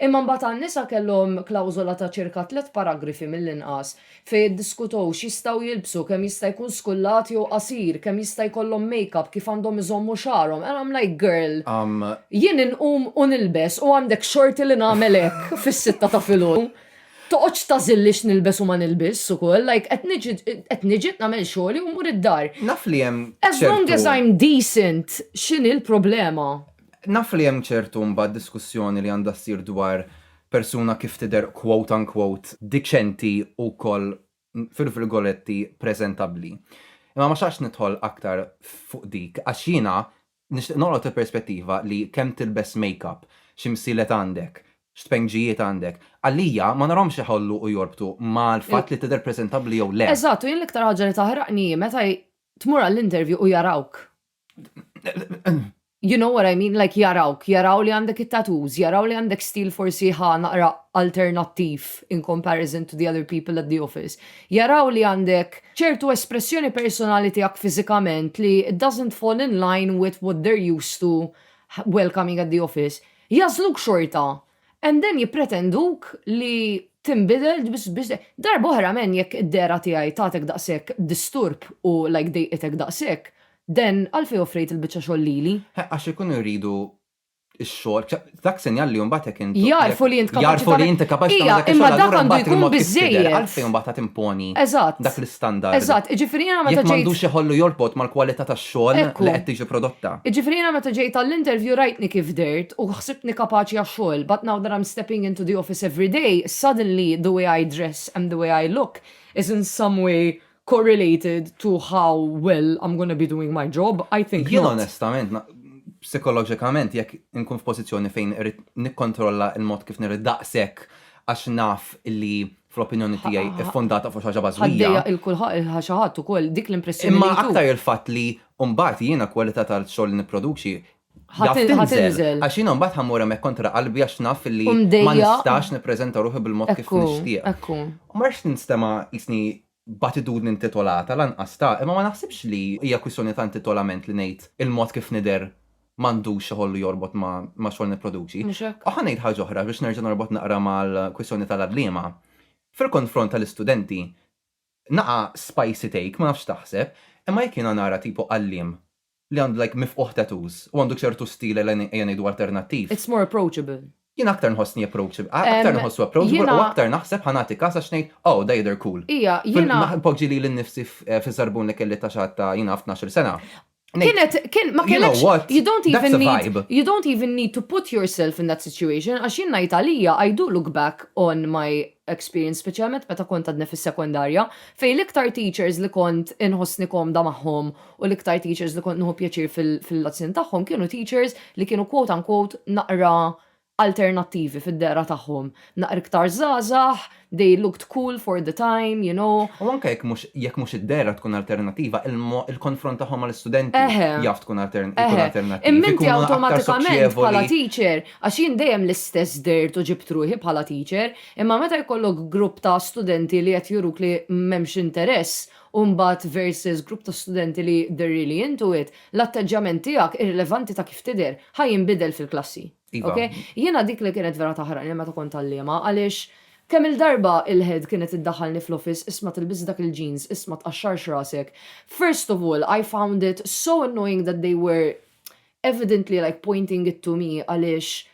[SPEAKER 4] Imma mbagħad għan-nisa kellhom klawżola ta' ċirka tliet paragrafi mill-inqas fejn iddiskutew x'jistgħu jilbsu, kemm jista' jkun skullat jew qasir, kemm jista' jkollhom makeup, kif għandhom iżommu xagħarhom and I'm like girl, jien inqum u nilbes u għandek xorti li nagħmel hekk fis-sitta ta' filgħodu? Toqgħodx tagħżilli x'nilbes u ma nilbisx ukoll, like qed niġi qed niġi nagħmel xogħli u mmur id-dar. Naf li hemm ċertu.
[SPEAKER 1] As long as I'm
[SPEAKER 4] decent x'inhi l-problema? Naf li hemm
[SPEAKER 1] ċertu mbagħad diskussjoni li għandha ssir dwar persuna kif tidher quote unquote diċenti u wkoll fil-virgoletti preżentabbli. Imma ma xtaqtx nidħol aktar fuq dik għax jiena nixtieq noqgħod il-perspettiva li kemm tilbes makeup, x'imsilet għandek, x'tpengġijiet għandek, għalija ma narahomx iħollu u jorbtu mal-fatt li tidher preżentabbli jew le. Eżatt, u jien l-iktar ħaġa li
[SPEAKER 4] taħraqni hi meta tmur għall-interview u jarawk You know what I mean, like jarawk, jaraw li għandek it-tattoos, jaraw li għandek stil forsi ħa naqra alternattiv in comparison to the other people at the office. Jaraw li għandek ċertu espressjoni personali tiegħek fiżikament li it doesn't fall in line with what they're used to welcoming at the office. Jagħżluk xorta And then jippretenduk li tinbidel biex biex darba oħra men jekk id-dehra tiegħi tagħtek daqshekk disturb u like dejqitek daqshekk, then għalfejn offrejt il-biċċa xogħol lili? He, għax ikunu jridu
[SPEAKER 1] x-xogħol, dak sinjal li mbagħad jekk int. Jagħrfu li int kapaċi. Jagħrfu
[SPEAKER 4] li int kapaċi
[SPEAKER 1] tagħmel dak ix-xogħol allura
[SPEAKER 4] mbagħad il-mod
[SPEAKER 1] kif
[SPEAKER 4] tidher. Għalfejn
[SPEAKER 1] mbagħad għad
[SPEAKER 4] timponi
[SPEAKER 1] dak l-istandard?
[SPEAKER 4] Eżatt,
[SPEAKER 1] eżatt, jiġifieri jiena meta ġejt.
[SPEAKER 4] Jekk m'għandux iħollu
[SPEAKER 1] jorbot mal-kwalità tax-xogħol. xogħol li qed tiġi prodotta. Jiġifieri jiena meta ġejt
[SPEAKER 4] għall-interview rajtni kif dehrt u ħsibtni kapaċi għax-xogħol but now that I'm stepping into the office every day suddenly the way I dress and the way I look is in some way correlated to how well I'm gonna be doing my job, I think not. Jien onestament,
[SPEAKER 1] psikoloġikament jekk inkun f'pożizzjoni fejn irrid nikkontrolla l-mod kif nirrid daqshekk għax naf li fl-opinjoni tiegħi, iffondata fuq xi ħaġa bażwija. Ħaddejja il kulħadd il
[SPEAKER 4] xi ħadd ukoll dik l-impressjoni. Imma aktar il-fatt
[SPEAKER 1] li mbagħad jiena kwalità tal-xogħol li nipproduċi ħatinżel.
[SPEAKER 4] Għax jiena mbagħad
[SPEAKER 1] ħammur hemmhekk kontra qalbi għax naf li ma nistax
[SPEAKER 4] nippreżenta
[SPEAKER 1] ruħi bil-mod kif nixtieq. Ekku. Ma rridx
[SPEAKER 4] ninstema'
[SPEAKER 1] jisni b'attitudni intitolata lanqas ta', imma ma naħsibx li hija kwistjoni ta' intitolament li ngħid il-mod kif nidher m'għandux xi ħollu jorbot ma' xogħol nipproduċi. Mhux hekk. U ħa ngħid ħaġa
[SPEAKER 4] oħra biex nerġa'
[SPEAKER 1] norbot naqra mal-kwistjoni tal-għalliema. Fil-konfront tal-istudenti, naqa' spicy take, ma nafx x'taħseb, imma jekk jiena nara tipu għalliem li għandu like mifqugħ tattoos u għandu ċertu stil ella ejja ngħidu alternattiv. It's more approachable.
[SPEAKER 4] Jien aktar nħossni
[SPEAKER 1] approachable, aktar nħossu approachable u aktar naħseb ħa nagħti każ għax ngħid oh da jidher cool. Ija, jiena. Npoġġi
[SPEAKER 4] lili nnifsi
[SPEAKER 1] fiż-żarbun li kelli ta' xatt ta' jiena naf tnax-il sena. Kienet, kien,
[SPEAKER 4] ma kellekx. You know what? You
[SPEAKER 1] don't even
[SPEAKER 4] need.
[SPEAKER 1] That's a vibe.
[SPEAKER 4] You
[SPEAKER 1] don't even
[SPEAKER 4] need to
[SPEAKER 1] put
[SPEAKER 4] yourself in that situation għax jien ngħid għalija I do look back on my experience speċjalment meta kont għadni fis-sekondarja fejn l-iktar teachers li kont inħossni komda magħhom U l-iktar teachers li kont nieħu pjaċir fil-lezzjoni tagħhom kienu teachers li kienu quote unquote naqra alternattivi fid-dehra tagħhom. Naqra iktar żgħażagħ, they looked cool for the time, you know. U anke jekk mhux
[SPEAKER 1] jekk mhux id-dehra tkun alternattiva, il-mo il-konfront tagħhom mal-istudenti Eħe. jaf tkun altern ikun Eħe. alternattiv. Imma inti Ikunu aktar
[SPEAKER 4] awtomatikament bħala soċjevoli. teacher, għax jien dejjem l-istess dehrt u ġibt ruħi bħala teacher, imma meta jkollok grupp ta' studenti li qed juruk li m'hemmx interess, u mbagħad versus grupp ta' studenti li they're really into it, l-atteġġjament tiegħek, irrilevanti ta' kif tidher, ħa jinbidel fil-klassi. Ok? Jiena dik li kienet vera taħraqni meta kont għalliema għaliex kemm-il darba il-head kienet iddaħħalni fl-office isma' tilbis dak il-jeans, isma' tqaxxarx rasek. First of all, I found it so annoying that they were evidently like pointing it to me għaliex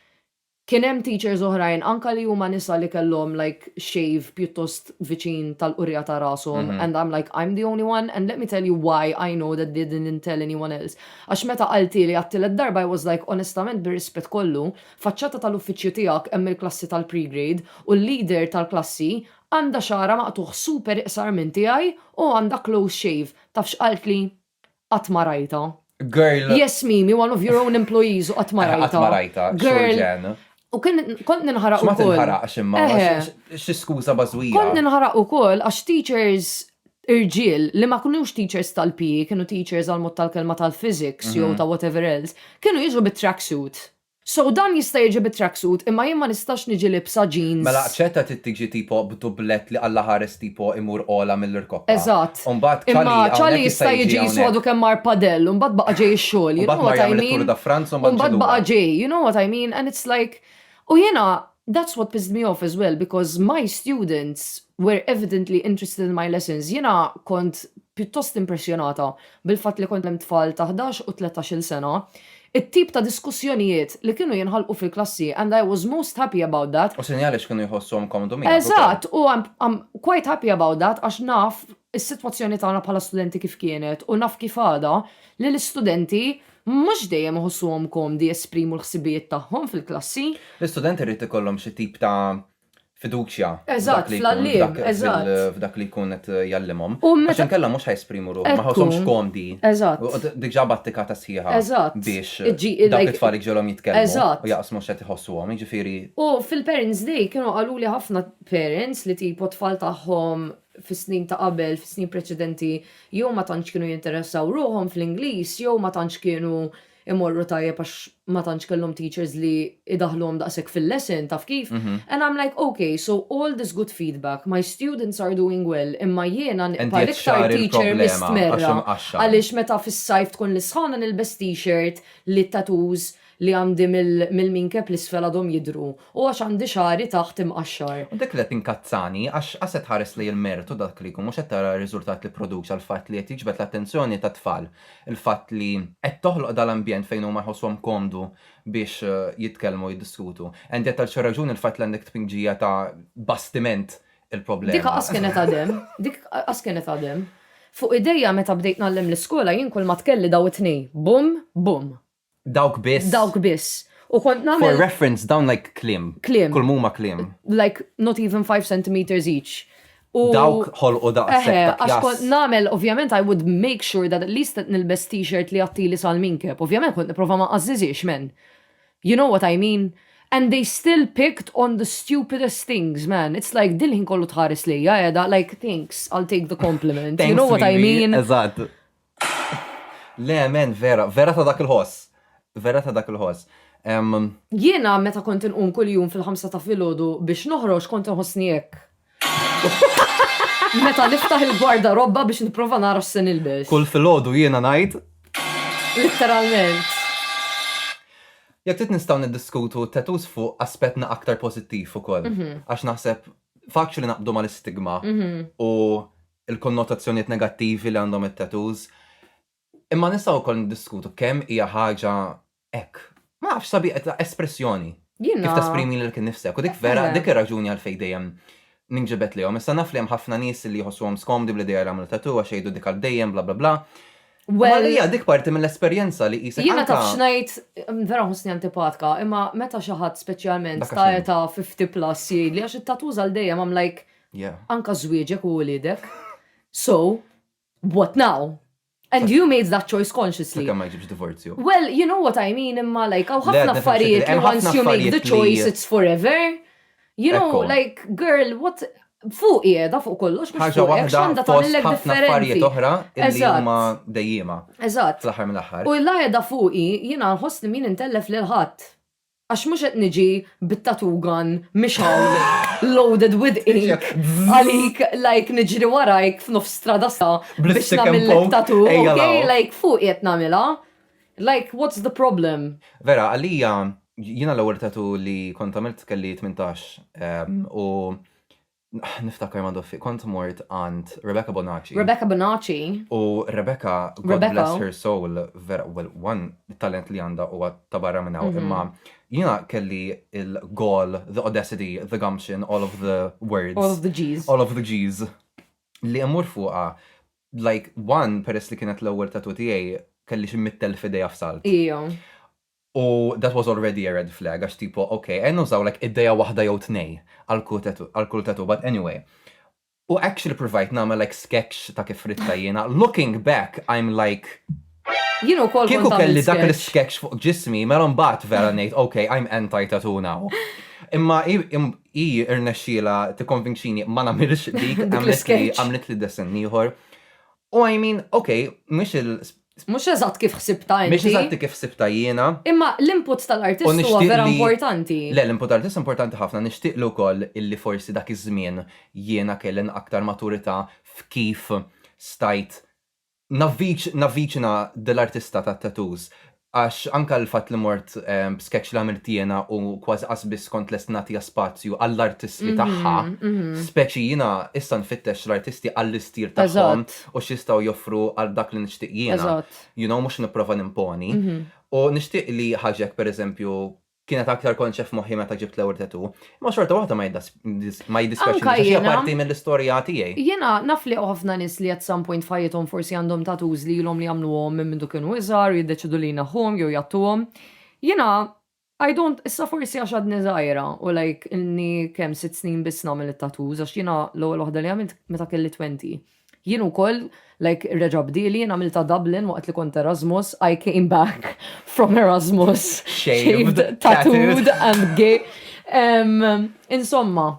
[SPEAKER 4] Kien hemm teachers oħrajn anka li huma nisa li kellhom like shave pjuttost viċin tal-qurrija ta' rashom and I'm like I'm the only one and let me tell you why I know that they didn't tell anyone else għax meta qalthieli għat-tielet darba I was like onestament bir-rispett kollu faċċata tal-uffiċċju tiegħek hemm il-klassi tal-pre-grade u l-leader tal-klassi għandha xagħarha maqtugħ super iqsar minn tiegħi u għandha close shave taf x'qaltli? Qatt ma rajtha. Girl. Yes
[SPEAKER 1] Mimi, one of
[SPEAKER 4] your own employees u qatt ma rajtha. Qatt ma rajtha. Girl. U kont ninħaraq ukoll. Ma tinħaraqx imma.
[SPEAKER 1] Xi skuża bażwija. Kont ninħaraq ukoll
[SPEAKER 4] għax teachers irġiel li ma kinux teachers tal-PE, kienu teachers għall-mod tal-kelma tal-physics jew ta' whatever else, kienu jiġu bit-tracksuit. So dan jista' jiġi bi track suit imma jien ma nistax niġi libsa jeans. Mela aċċetta trid tiġi
[SPEAKER 1] tipo b'dublett li Alla ħares tipo imur ogħla mill-irkoppa. Eżatt. U mbagħad
[SPEAKER 4] Imma Cali hawnhekk Cali jista' jista' jiġi jisu hawnhekk. għadu kemm mar padel u mbagħad baqa' ġej ix-xogħol, you U mbagħad know mar what I jagħmel mean? it-Tour da France u mbagħad U jiġi mbagħad baqa' lura. ġej, you know what I mean? And it's like U jiena that's what pissed me off as well because my students were evidently interested in my lessons. Jiena kont pjuttost impressjonata bil-fatt li kont hemm tfal ta' ħdax u tlettax-il sena It-tip ta' diskussjonijiet li kienu jinħalqu fil-klassi and I was most happy about that. U sinjali x'kienu jħossuhom
[SPEAKER 1] komdu miegħek ukoll. Eżatt, u I'm
[SPEAKER 4] I'm quite happy about that għax naf is-sitwazzjoni tagħna bħala studenti kif kienet u naf kif għadha li l-istudenti mhux dejjem iħossuhom komdi jesprimu l-ħsibijiet tagħhom fil-klassi. L-istudenti rrid
[SPEAKER 1] ikollhom xi tip ta' fiduċja f'dak
[SPEAKER 4] li jkun f'dak li jkun qed
[SPEAKER 1] jgħallimhom. Għax inkella mhux ħajsprimu ruħhom, ma ħawshomx komdi. Diġà
[SPEAKER 4] battika ta'
[SPEAKER 1] sħiħa biex
[SPEAKER 4] dawk
[SPEAKER 1] it-tfal iġġielhom jitkellmu u jaqsmu x'qed
[SPEAKER 4] iħossuhom,
[SPEAKER 1] jiġifieri. U fil-Parents'
[SPEAKER 4] Day kienu qaluli ħafna parents li tipo t-tfal tagħhom fis-snin ta' qabel, fis-snin preċedenti jew ma tantx kienu jinteressaw ruħhom fl-Ingliż jew ma tantx kienu imorru tajjeb għax ma tantx kellhom teachers li jdaħħluhom daqshekk fil-lesson, taf kif? And I'm like, ok, so all this good feedback, my students are doing well, imma jiena nibqa' l-iktar teacher mistmerra għaliex meta fis-sajf tkun l-isħana nilbes t-shirt li t-tattoos li għandi mill-minkeb l-isfel għadhom jidhru u għax għandi xagħri taħt imqaxxar. U dik li qed tinkazzani
[SPEAKER 1] għax qas qed tħares lejn il-mertu dak li jkun mhux qed tara r-riżultat li pproduċa l-fatt li qed jiġbed l-attenzjoni tat-tfal il-fatt li qed toħloq dal-ambjent fejn huma jħossuhom komdu biex jitkellmu u jiddiskutu. Andy għad tal-xi raġuni l-fatt li għandek tpinġija ta' bastiment il-problema. Dik qas kienet għad hemm,
[SPEAKER 4] dik qas kienet għad hemm. Fuq idejja meta bdejt ngħallem l-iskola jien kulma tkelli daw it-tnejn, bumm, bumm. Dawk biss.
[SPEAKER 1] Dawk biss. U
[SPEAKER 4] kont nagħmel. For reference, dawn like
[SPEAKER 1] kliem. Kliem. Kull muma kliem. Like not even
[SPEAKER 4] 5 centimeters each. U dawk
[SPEAKER 1] ħolqu daqshekk. Għax kont nagħmel,
[SPEAKER 4] ovvjament, I would make sure that at least qed nilbes t-shirt li għattili sal-minkeb. Ovvjament kont nipprova ma qażżiżiex men. You know what I mean? And they still picked on the stupidest things, man. It's like dil-ħin kollu tħares lejja, edha, like, thanks, I'll take the compliment. you know what I mean? Eżatt.
[SPEAKER 1] Le amen vera, vera ta' dak il-ħoss. Vera ta' dak il-ħoss. Ehm.
[SPEAKER 4] Jiena meta kont inqum kuljum fil-ħamsa ta' filgħodu biex noħroġ kont inħossni hekk. Meta niftaħ il-gwardarobba biex nipprova nara x'se nilbes. Kull filgħodu jiena
[SPEAKER 1] ngħid.
[SPEAKER 4] Litteralment.
[SPEAKER 1] Jekk trid nistgħu niddiskutu t-tattoos fuq aspetna aktar pożittiv ukoll. Għax naħseb faċli naqbdu mal-istigma u il-konnotazzjonijiet negattivi li għandhom it-tattoos. Imma nistgħu wkoll niddiskutu kemm hija ħaġa hekk. Ma nafx, sabiħa ta' espressjoni. Jiena. Kif tesprimi lilek innifsek. U dik vera, dik ir-raġuni għalfejn dejjem ninġibed lejhom. Issa naf li hemm ħafna nies li jħossuhom skomdi bl-idea li jagħmlu tattoo għax jgħidu dik għal dejjem bla bla bla. Imma għalija dik parti mill-esperjenza li qisek anke. Jiena taf x'ngħid,
[SPEAKER 4] vera nħossni antipatka, imma meta xi ħadd speċjalment ta' età 50 plus jgħidli għax it-tattoos għal dejjem, I'm like, Yeah. Anka żwieġek u uliedek. So, what now? And you made that choice consciously. Sakemm ma jġibx divorzju.
[SPEAKER 1] Well, you know what I
[SPEAKER 4] mean, imma like, għaw ħafna affarijiet li once you make the choice, it's forever. You know, like, girl, what, fuq jeda fuq kollox, mux fuq jeda xanda ta' l-lek differenti. oħra,
[SPEAKER 1] illi huma dejjima. Eżat. Fl-ħar
[SPEAKER 4] mill-ħar. U
[SPEAKER 1] l-lajda fuqi,
[SPEAKER 4] jina nħoss li min intellef l-ħat. Għax mhux qed niġi bit-tattoo gun mixgħul loaded with ink għalik like niġri warajk f'nofs strada sa biex nagħmillek tattoo, okay? Like fuqi qed nagħmilha. Like what's the problem? Vera, għalija
[SPEAKER 1] jiena l-ewwel tattoo li kont għamilt kelli tmintax u Niftakar ma doffi, kont mort għand Rebecca Bonacci. Rebecca Bonacci. U Rebecca, God bless her soul, vera, well, one, it-talent li għandha huwa ta' barra minn hawn, imma jiena kelli l-gall, the audacity, the gumption, all of the words. All of
[SPEAKER 4] the G's. All of the G's.
[SPEAKER 1] Li immur fuqha, like, one, peress li kienet l-ewwel tattoo tiegħi, kelli xi mitt elf idea f'salt. Ija.
[SPEAKER 4] U
[SPEAKER 1] that was already a red flag għax tipo ok għen nużaw like idea waħda jew tnej għal kull tattoo but anyway. U actually provajt nagħmel like sketch ta' kif riddha jiena, looking back I'm like Jien ukoll kont għamilt sketch. Kieku kelli dak l-sketch fuq ġismi mela mbagħad vera ngħid ok I'm anti tattoo now. Imma hi irnexxielha tikkonvinċini ma nagħmilx dik għamlitli dessin ieħor. U I mean, ok, mhux il. Mhux
[SPEAKER 4] eżatt kif ħsibtha inti. Mhix eżatti kif ħsibtha
[SPEAKER 1] jiena. Imma l-input
[SPEAKER 4] tal-artist huwa vera importanti. Le, l-input tal-artist
[SPEAKER 1] importanti ħafna. Nixtieqlu wkoll illi forsi dak iż-żmien jiena kelli aktar maturità f'kif stajt navviċina dil-artista tat-tattoos. Għax anke l-fatt li mort b'sketch li għamilt jiena u kważi qas biss kont lest nagħtiha spazju għall-artiżmi tagħha, speċi jiena issa nfittex l-artisti għall-istil tagħhom u x'jistgħu joffru għal dak li nixtieq jiena, you know, mhux nipprova nimponi. U nixtieq li ħaġek, pereżempju, kienet aktar konċa f'moħħi meta ġibt l-ewwel tattoo, imma xorta waħda ma jiddispeċini għax hija parti mill-istorja tiegħi. Jiena naf li hawn
[SPEAKER 4] ħafna nies li at some point f'ħajjithom forsi għandhom tattoos li ilhom li jagħmluhom minn mindu kienu iżgħar u jiddeċiedu li jneħħuhom jew jgħattuhom. Jiena I don't, issa forsi għax għadni żgħira u like ilni kemm sitt snin biss nagħmel it-tattoos għax jiena l-ewwel waħda li għamilt meta kelli twenty. Jien ukoll, like reġa' bdieli, jien għamiltha Dublin waqt li kont Erasmus, I came back from Erasmus shaved, tattooed and gay. Insomma,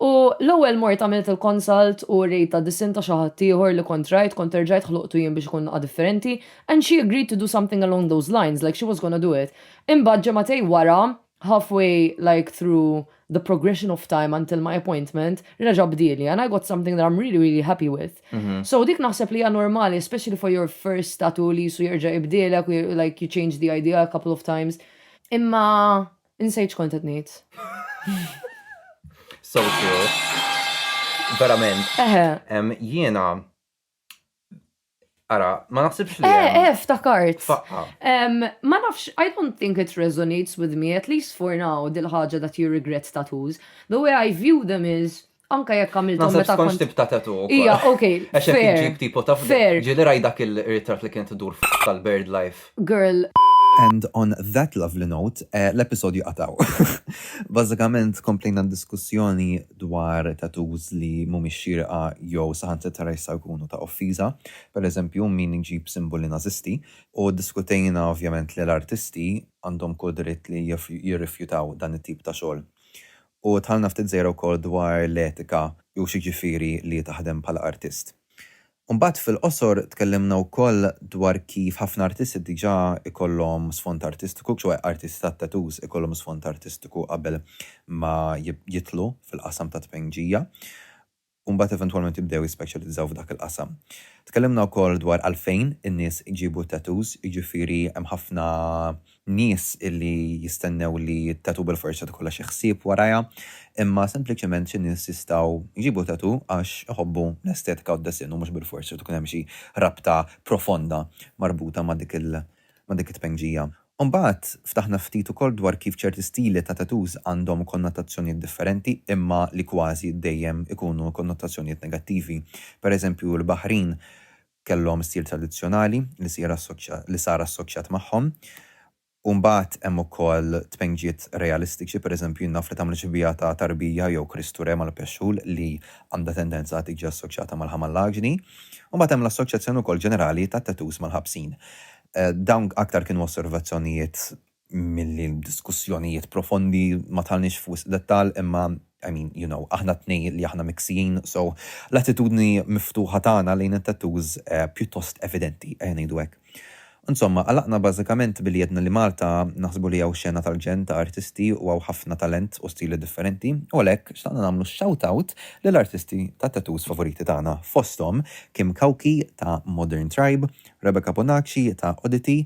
[SPEAKER 4] U l-ewwel mort għamilt il-consult u rejta disin ta' xi ħadd ieħor li kont rajt, kont erġajt ħloqtu jien biex ikun naqa' differenti, and she agreed to do something along those lines, like she was gonna do it. Imbagħad ġemgħatej wara, halfway like through the progression of time until my appointment, reġa' bdieli and I got something that I'm really really happy with. So dik naħseb li hija normali especially for your first tattoo li qisu jerġa' jibdielek u like you change the idea a couple of times. Imma insejt x'kont qed ngħid.
[SPEAKER 1] So true. Verament. Eħe. Jiena Ara, ma naħsibx li. Eh, eh, ftakart.
[SPEAKER 4] Faqqa. Ma nafx, I don't think it resonates with me, at least for now, dil-ħagġa that you regret tattoos. The way I view them is, anka jekk għamiltu meta. Nasib konx tibta tatu.
[SPEAKER 1] Ija, ok. Għaxek
[SPEAKER 4] iġib tipo ta' fair.
[SPEAKER 1] Ġili raj dak il-ritrat li kien tidur tal-bird life. girl.
[SPEAKER 4] And on
[SPEAKER 1] that lovely note, l-episodju għad hawn. Bażikament komplejna d-diskussjoni dwar tattoos li mhumiex xierqa jew saħansitra jistgħu jkunu ta' offiża, pereżempju min iġib simboli Nażisti, u ddiskutejna ovvjament li l-artisti għandhom kull dritt li jirrifjutaw dan it-tip ta' xogħol. U dħalna ftit żgħira wkoll dwar l-etika u x'jiġifieri li taħdem bħala artist. U mbagħad fil-qosor tkellimna wkoll dwar kif ħafna artisti diġà jkollhom sfond artistiku, ċoe artisti tat-tattoos ikollhom sfond artistiku qabel ma jidħlu fil-qasam tat-tpejnġija u mbagħad eventwalment jibdew jispeċjalizzaw f'dak il-qasam. Tkellimna wkoll dwar għalfejn in-nies iġibu t-tattoos, jiġifieri hemm ħafna nies illi jistennew li t-tattoo bil-forza tkollha xi ħsieb warajha, imma sempliċement xi nies jistgħu jġibu tattoo għax iħobbu l-estetika u d-disinn u mhux bil-forza irid ikun hemm xi rabta profonda marbuta ma' dik il ma' dik it-tpengġija. U mbagħad ftaħna ftit ukoll dwar kif ċerti stili ta' tattoos għandhom konnotazzjonijiet differenti imma li kważi dejjem ikunu konnotazzjonijiet negattivi. Per eżempju l-Baħrin kellhom stil tradizzjonali li sir assoċja li sar assoċjat magħhom. U mbagħad hemm ukoll tpenġiet realistiċi, pereżempju jien naf li tagħmel xbieha ta' Tarbija jew Kristu Re mal-Pexxul li għandha tendenza tiġi assoċjata mal-ħamallaġni. U mbagħad hemm l-assoċjazzjoni wkoll ġenerali tat-tattoos mal-ħabsin. Dawn aktar kienu osservazzjonijiet milli diskussjonijiet profondi, ma dħalniex f'wisq dettall imma I mean, you know, aħna t-tnejn li aħna miksijin, so l-attitudni miftuħa tagħna lejn it-tattoos pjuttost evidenti, ejja ngħidu hekk. Insomma, għalaqna bażikament billi għedna li Malta naħsbu li hawn xena tal-ġenn ta' artisti u hawn ħafna talent u stili differenti u għalhekk xtaqna nagħmlu shout-out lill-artisti tat-tattoos favoriti tagħna fosthom Kim Cauchi ta' Modern Tribe, Rebecca Bonacci ta' Oddity,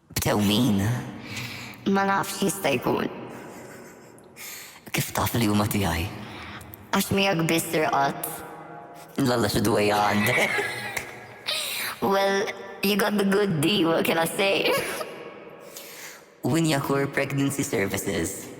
[SPEAKER 2] Tew min? Ma
[SPEAKER 5] nafx x'jista' jkun.
[SPEAKER 2] Kif taf li huma tiegħi? Għax miegħek
[SPEAKER 5] biss irqadt. Lalla
[SPEAKER 2] xi dwejja għandek.
[SPEAKER 5] Well, you got the good deal, what can I say?
[SPEAKER 2] Winjakur Pregnancy Services.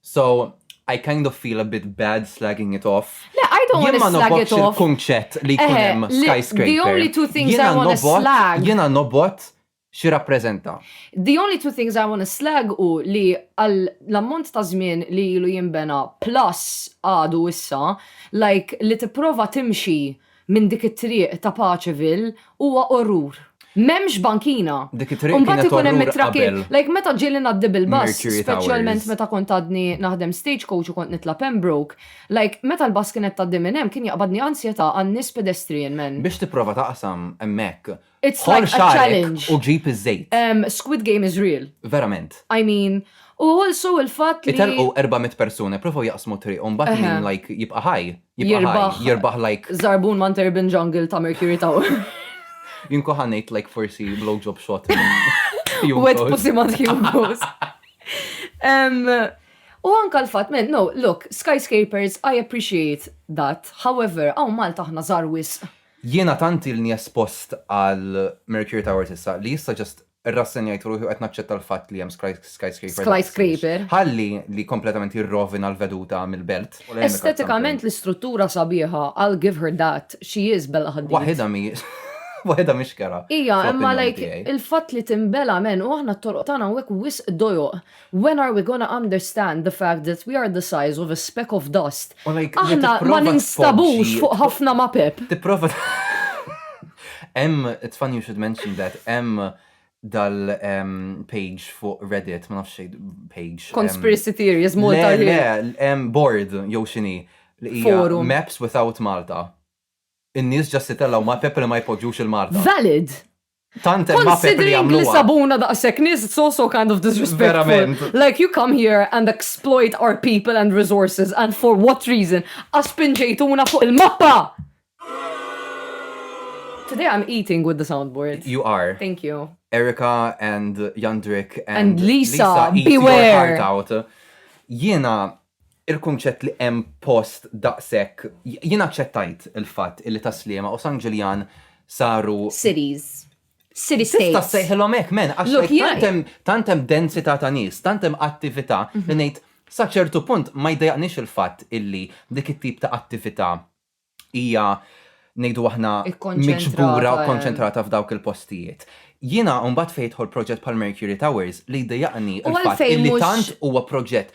[SPEAKER 6] So, I kind of feel a bit bad slagging it off. Le, I don't want to slag it
[SPEAKER 4] off. il-kunċett li jkun eh, hemm
[SPEAKER 6] skyscraper. The only two things
[SPEAKER 4] I want to slag. Jiena nobot
[SPEAKER 6] xi rappreżenta. The only two
[SPEAKER 4] things I want to slag u li għal l-ammont ta' żmien li ilu jinbena plus għadu issa, like li tipprova timxi minn dik it-triq ta' Paceville huwa orrur. M'hemmx bankina. Dik it-triq kienet orrur qabel. U mbagħad ikun
[SPEAKER 6] hemm it-traffic. Like meta ġieli ngħaddi
[SPEAKER 4] bil-bus, speċjalment
[SPEAKER 6] meta kont
[SPEAKER 4] għadni
[SPEAKER 6] naħdem
[SPEAKER 4] stagecoach u kont nitla' Pembroke, like meta l-bus kienet tgħaddi minn hemm kien jaqbadni ansjetà għan-nies pedestrian man. Biex tipprova taqsam
[SPEAKER 6] hemmhekk It's like a
[SPEAKER 4] challenge. U ġib iż-żejt.
[SPEAKER 6] Um, Squid Game is
[SPEAKER 4] real. Verament. I mean, u also il-fatt li. Italqu 400 persuna,
[SPEAKER 6] provaw jaqsmu tri, un bat minn like jibqa ħaj. Jirbaħ. Jirbaħ like. Zarbun man Urban
[SPEAKER 4] Jungle ta' Mercury Tower. Jinko
[SPEAKER 6] ħanajt like forsi blowjob shot. Wet
[SPEAKER 4] pussy man Hugo's. U anka l-fat, men, no, look, skyscrapers, I appreciate that. However, għaw Malta ħna zarwis. Jiena tant
[SPEAKER 6] ilni espost għal Mercury Towers issa li issa just irrassenjajt ruħi u qed naċċetta l-fatt li hemm skyscraper daqshekk.
[SPEAKER 4] Ħalli li
[SPEAKER 6] kompletament jirrovina l-veduta mill-belt. Estetikament
[SPEAKER 4] l-istruttura sabiħa, I'll give her that, she is Bella Hadid. Waħidha mhijiex waħidha mhix
[SPEAKER 6] kerha. Hija, imma like
[SPEAKER 4] il-fatt li tinbela men u aħna t-toroq tagħna hawnhekk wisq dojoq. When are we gonna understand the fact that we are the size of a speck of dust? Aħna ma ninstabux fuq ħafna mapep. Tipprova
[SPEAKER 6] Hemm, it's funny you should mention that, hemm dal-page fuq Reddit, ma nafx page. Conspiracy theories,
[SPEAKER 4] Malta. Le, le, hemm
[SPEAKER 6] board, jew xini, li hija
[SPEAKER 4] Maps without
[SPEAKER 6] Malta. In-nies ġast itellaw
[SPEAKER 4] mapep
[SPEAKER 6] li ma jpoġġux il-Malta. Valid! Tant hemm mapep li jagħmluha. Considering li sabuna
[SPEAKER 4] daqshekk
[SPEAKER 6] nies
[SPEAKER 4] it's also kind of disrespectful. Like you come
[SPEAKER 6] here
[SPEAKER 4] and exploit our people and resources and for what reason? Għax spinġejtuna fuq il-mappa! Today I'm eating with the soundboard. You are. Thank you.
[SPEAKER 6] Erica
[SPEAKER 4] and
[SPEAKER 6] Jandrik and Lisa,
[SPEAKER 4] beware!
[SPEAKER 6] Jiena il-kunċett li hemm post daqshekk, jien aċċettajt il-fatt illi Tas-Sliema u San Ġiljan saru. Cities.
[SPEAKER 4] City states. Tista' ssejħilhom
[SPEAKER 6] hekk, men,
[SPEAKER 4] għax Look,
[SPEAKER 6] jien- tant hemm- tant hemm
[SPEAKER 4] densità
[SPEAKER 6] ta' nies, tant hemm attività li ngħid sa ċertu punt ma jdejjaqnix il-fatt illi dik it-tip ta' attività hija ngħidu aħna miġbura
[SPEAKER 4] u konċentrata
[SPEAKER 6] f'dawk il-postijiet. Jiena mbagħad fejn jidħol proġett bħal Mercury Towers li jdejjaqni l-fatt li tant huwa
[SPEAKER 4] proġett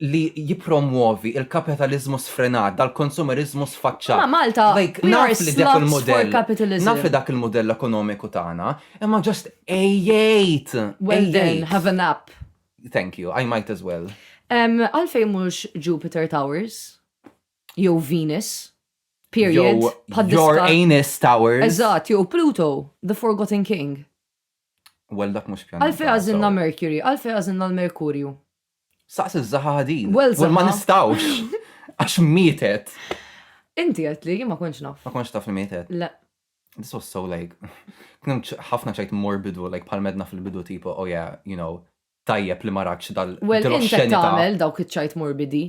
[SPEAKER 6] li jippromwovi l-kapitaliżmu sfrenat, dal-konsumeriżmu sfaċċat. Ma' Malta,
[SPEAKER 4] naf li dak
[SPEAKER 6] il-mudell,
[SPEAKER 4] naf
[SPEAKER 6] li dak
[SPEAKER 4] il-mudell
[SPEAKER 6] ekonomiku tagħna, imma ġast ejjgħid! Well then,
[SPEAKER 4] have a nap. Thank you, I
[SPEAKER 6] might as well. Għalfejn
[SPEAKER 4] mhux Jupiter Towers? Jew Venus. Period. Your
[SPEAKER 6] anus towers.
[SPEAKER 4] Eżatt,
[SPEAKER 6] jew Pluto,
[SPEAKER 4] the forgotten king. Well,
[SPEAKER 6] dak mhux pjaneta. Għalfejn għażilna Mercury?
[SPEAKER 4] Għalfejn għażilna l-Merkurju? Saqs
[SPEAKER 6] iż-żaħa ħadin. Well, żaħa. Ma nistawx. Għax mietet. Inti
[SPEAKER 4] qed li ma kontx naf. Ma kontx taf li mietet. Le.
[SPEAKER 6] This
[SPEAKER 4] was so
[SPEAKER 6] like, kien ħafna ċajt morbidu, like bħal medna fil-bidu tipo, oh yeah, you know, tajjeb li maratx dal Well, inti
[SPEAKER 4] tagħmel dawk
[SPEAKER 6] iċ-ċajt
[SPEAKER 4] morbidi.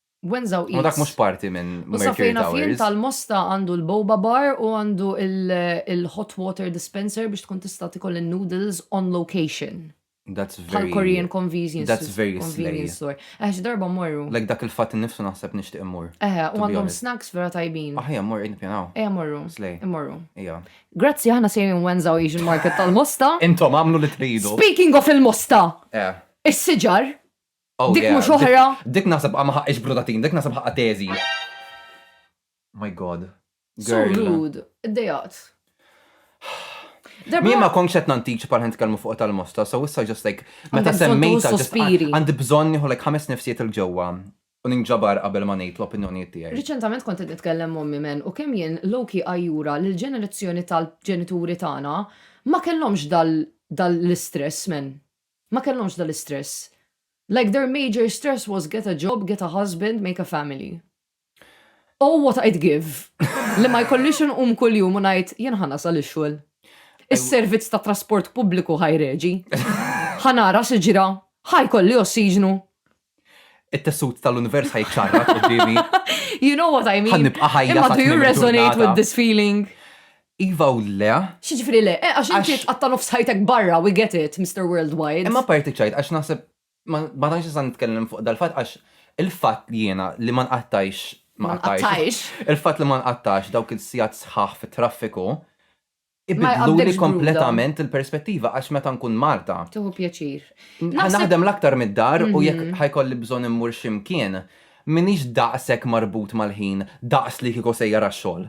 [SPEAKER 4] Wenzaw Eats. U dak mhux parti
[SPEAKER 6] minn Mercury Towers.
[SPEAKER 4] tal-Mosta għandu
[SPEAKER 6] l-Boba
[SPEAKER 4] Bar u għandu il-hot water dispenser biex tkun tista' tikol in-noodles on location. That's very. Bħal
[SPEAKER 6] Korean
[SPEAKER 4] convenience.
[SPEAKER 6] That's
[SPEAKER 4] very convenience
[SPEAKER 6] store.
[SPEAKER 4] Eħe, xi darba mmorru. Like dak il-fatt innifsu
[SPEAKER 6] naħseb nixtieq immur. Eħe, u għandhom snacks vera
[SPEAKER 4] tajbin. Aħja mmur qed nippjanaw.
[SPEAKER 6] Eħe mmorru. Slej. Immorru. Ija.
[SPEAKER 4] Grazzi
[SPEAKER 6] aħna sejrin
[SPEAKER 4] Wenza u Asian Market tal-Mosta. Intom għamlu li tridu.
[SPEAKER 6] Speaking of il-Mosta.
[SPEAKER 4] Eh.
[SPEAKER 6] Is-siġar.
[SPEAKER 4] Oh, Dik yeah.
[SPEAKER 6] mhux oħra.
[SPEAKER 4] Dik- Dik naħseb ma ħaqqix
[SPEAKER 6] brudatin, dik naħseb ħaqqa teżi. My god. So Girl. rude. Iddejaqt. Min ma konx qed nantiċ pal ħent kelmu fuq tal-mosta, so issa just like meta Għandek bżonn semmejta tuħu
[SPEAKER 4] just
[SPEAKER 6] sospiri.
[SPEAKER 4] għandi bżonn nieħu like
[SPEAKER 6] ħames nifsijiet il ġewwa u ninġabar qabel ma ngħid l-opinjonijiet tiegħi. Riċentament kont qed nitkellem
[SPEAKER 4] mommi men u kemm jien Loki ajjura li l-ġenerazzjoni tal-ġenituri tagħna ma kellhomx dal dal l-istress men. Ma kellhomx dal-istress. Like their major stress was get a job, get a husband, make a family. Oh what I'd give li ma jkollix inqum kuljum u ngħid jien ħa nasal ix-xogħol. Is-servizz tat-trasport pubbliku ħa jreġi. Ħa nara x'ġra. Ħa jkolli ossiġnu.
[SPEAKER 6] it-tessut tal-univers ħajċarra qudiemi. You know
[SPEAKER 4] what I mean? Ħannibqa' ħajja. Imma do you
[SPEAKER 6] resonate
[SPEAKER 4] with this
[SPEAKER 6] feeling?
[SPEAKER 4] Iva u
[SPEAKER 6] le. Xieġifri le, eh, għax
[SPEAKER 4] inti tqatta nofs ħajtek
[SPEAKER 6] barra,
[SPEAKER 4] we get it, Mr. Worldwide. Imma parti ċajt, għax
[SPEAKER 6] naħseb, ma tantx nista' nitkellem fuq dal-fatt għax il-fatt li jiena li ma nqattajx ma nqattajx.
[SPEAKER 4] Il-fatt li ma
[SPEAKER 6] nqattajx dawk il-sijat sħaħ fit-traffiku
[SPEAKER 4] Ibiddluli
[SPEAKER 6] kompletament
[SPEAKER 4] il-perspettiva
[SPEAKER 6] għax meta nkun Malta. Tieħu pjaċir.
[SPEAKER 4] Ħa naħdem l-aktar
[SPEAKER 6] mid-dar u jekk ħa jkolli
[SPEAKER 4] bżonn
[SPEAKER 6] immur xi mkien, m'iniex daqshekk marbut mal-ħin daqs li kieku sejjer għax-xogħol.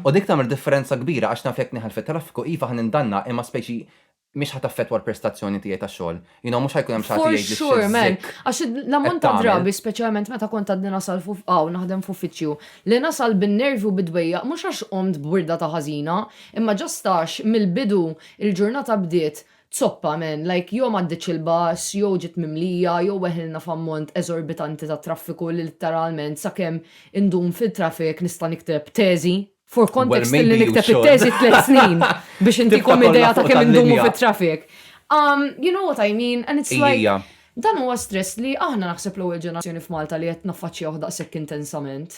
[SPEAKER 6] U dik tagħmel
[SPEAKER 4] differenza
[SPEAKER 6] kbira għax naf jekk nieħel fit-traffiku iva ħa nindanna imma speċi mhix ħa taffettwa l-prestazzjoni tiegħi tax-xogħol. You know, mux ħajkun hemm xaħti jgħid li Sure, man. Għax
[SPEAKER 4] l-ammont
[SPEAKER 6] ta'
[SPEAKER 4] drabi, speċjalment meta
[SPEAKER 6] kont
[SPEAKER 4] għadni nasal fuq għaw naħdem f'uffiċċju, li nasal bin-nervi u bid-dwejja, mhux għax qomt b'wirda ta' ħażina, imma ġast għax mill-bidu l-ġurnata bdiet zoppa, man, like jew m'għaddietx il-bus, jew ġiet mimlija, jew weħilna f'ammont eżorbitanti ta' traffiku li litteralment sakemm indum fil-traffic nista' nikteb teżi. For context li nikteb it-teżi tliet
[SPEAKER 6] snin
[SPEAKER 4] biex intikom idea ta' kemm indumu
[SPEAKER 6] fit-traffic.
[SPEAKER 4] Um, you know what I mean? And it's like, dan huwa
[SPEAKER 6] stress
[SPEAKER 4] li aħna naħseb l-ewwel ġenerazzjoni f'Malta li qed naffaċċjawh daqshekk intensament.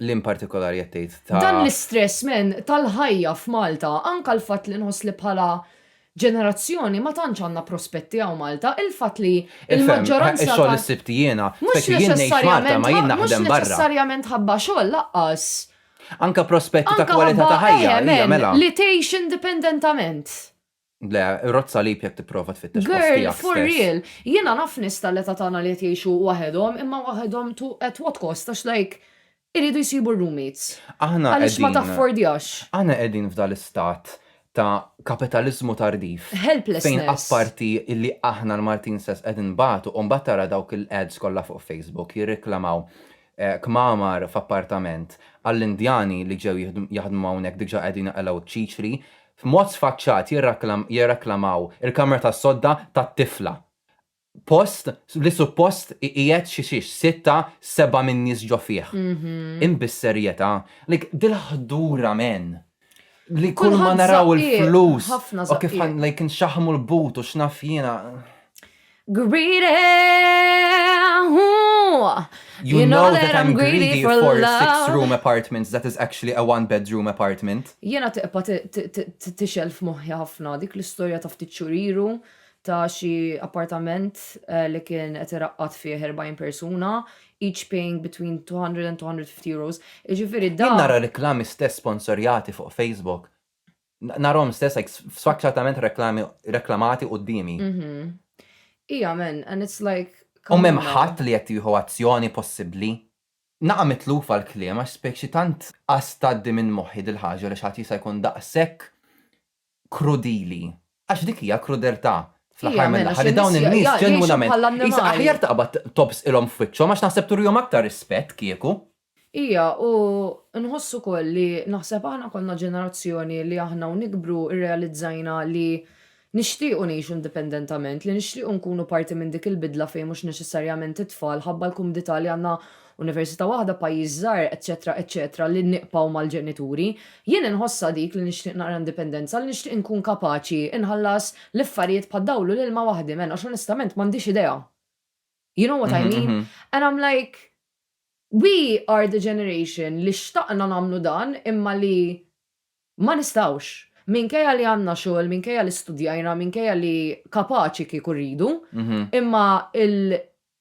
[SPEAKER 4] L-in
[SPEAKER 6] partikolari qed tgħid ta' Dan l-istress men
[SPEAKER 4] tal-ħajja f'Malta, anka l-fatt li nħoss li bħala ġenerazzjoni ma tantx għandna prospetti hawn Malta, il-fatt li l-maġġoranza ta' Ix-xogħol li ssibt
[SPEAKER 6] jiena,
[SPEAKER 4] speċi
[SPEAKER 6] jien ngħix Malta ma jien naħdem barra. Mhux neċessarjament ħabba xogħol
[SPEAKER 4] laqqas. Anke
[SPEAKER 6] prospetti ta' kwalità ta' ħajja.
[SPEAKER 4] Anke ħabba,
[SPEAKER 6] eħe men, li tgħix
[SPEAKER 4] indipendentament. Le,
[SPEAKER 6] rodd salib jekk tipprova tfittex post tiegħek stess. Girl, for real. Jiena
[SPEAKER 4] naf nies tal-età tagħna li qed jgħixu waħedhom, imma waħedhom to at what cost għax like Iridu jsibu r-roommates. Aħna qegħdin. Għaliex ma
[SPEAKER 6] taffordjax. Aħna
[SPEAKER 4] qegħdin f'dan
[SPEAKER 6] l-istat ta' kapitaliżmu tardif. Helplessness. Fejn
[SPEAKER 4] apparti
[SPEAKER 6] illi aħna l-Maltin stess qed inbatu u mbagħad tara dawk il-ads kollha fuq Facebook jirriklamaw kmamar f'appartament għall-Indjani li ġew jaħdmu hawnhekk diġa' qegħdin iqelgħu ċ-ċiċri, f'mod sfaċċat jirraklamaw il-kamra tas-sodda tat-tifla. Post li suppost iqiegħed xi xiex sitta, seba' minn nies ġo fih. Imma bis-serjetà, like dil-ħdura men! Li kull ma naraw il-flus
[SPEAKER 4] u
[SPEAKER 6] kif
[SPEAKER 4] like
[SPEAKER 6] nxaħħmu
[SPEAKER 4] l-but u
[SPEAKER 6] x'naf jiena.
[SPEAKER 4] Greedy! You
[SPEAKER 6] know that I'm greedy for love! You know that I'm greedy for four six room apartments that is actually a one bedroom apartment. Jiena tibqa'
[SPEAKER 4] tixgħel f'moħħi ħafna dik l-istorja ta' ftit xhur ilu ta' xi appartament li kien qed iraqqad fih 40 persuna, each paying between €200 and €250. Jiġifieri dan. Jien nara reklami
[SPEAKER 6] stess
[SPEAKER 4] sponsorjati
[SPEAKER 6] fuq Facebook, narahom stess like sfaċċatament reklami reklamati quddiemi.
[SPEAKER 4] Ija men, and it's like. U m'hemm ħadd
[SPEAKER 6] li qed
[SPEAKER 4] jieħu
[SPEAKER 6] azzjoni possibbli? Naqa' mitlufa l-kliem għax spjeg xi tant qas tgħaddi minn moħħi dil-ħaġa li xi ħadd jista' jkun daqshekk krudili. Għax dik hija krudeltà fl-aħħar mill-aħħar li dawn in-nies ġenwinament,
[SPEAKER 4] qisha
[SPEAKER 6] aħjar
[SPEAKER 4] taqbad
[SPEAKER 6] tobżqilhom f'wiċċhom għax naħseb turihom aktar rispett kieku. Hija, u
[SPEAKER 4] nħoss ukoll li naħseb aħna konna ġenerazzjoni li aħna u nikbru rrealizzajna li nixtiequ ngħixu indipendentament, li nixtiequ nkunu parti minn dik il-bidla fejn mhux neċessarjament it-tfal, ħabba l-kumdità li għandna Università waħda, pajjiż żgħir, eċċetera, eċċetera, li nibqgħu mal-ġenituri. Jien inħossha dik li nixtieq naqra indipendenza, li nixtieq inkun kapaċi nħallas l-affarijiet bħad-dawl u l-ilma waħdi, man, għax onestament m'għandix idea. You know what I mean? And I'm like, we are the generation li xtaqna nagħmlu dan imma li ma nistgħux. Minkejja li għandna xogħol, minkejja li studjajna, minkejja li kapaċi kieku rridu, imma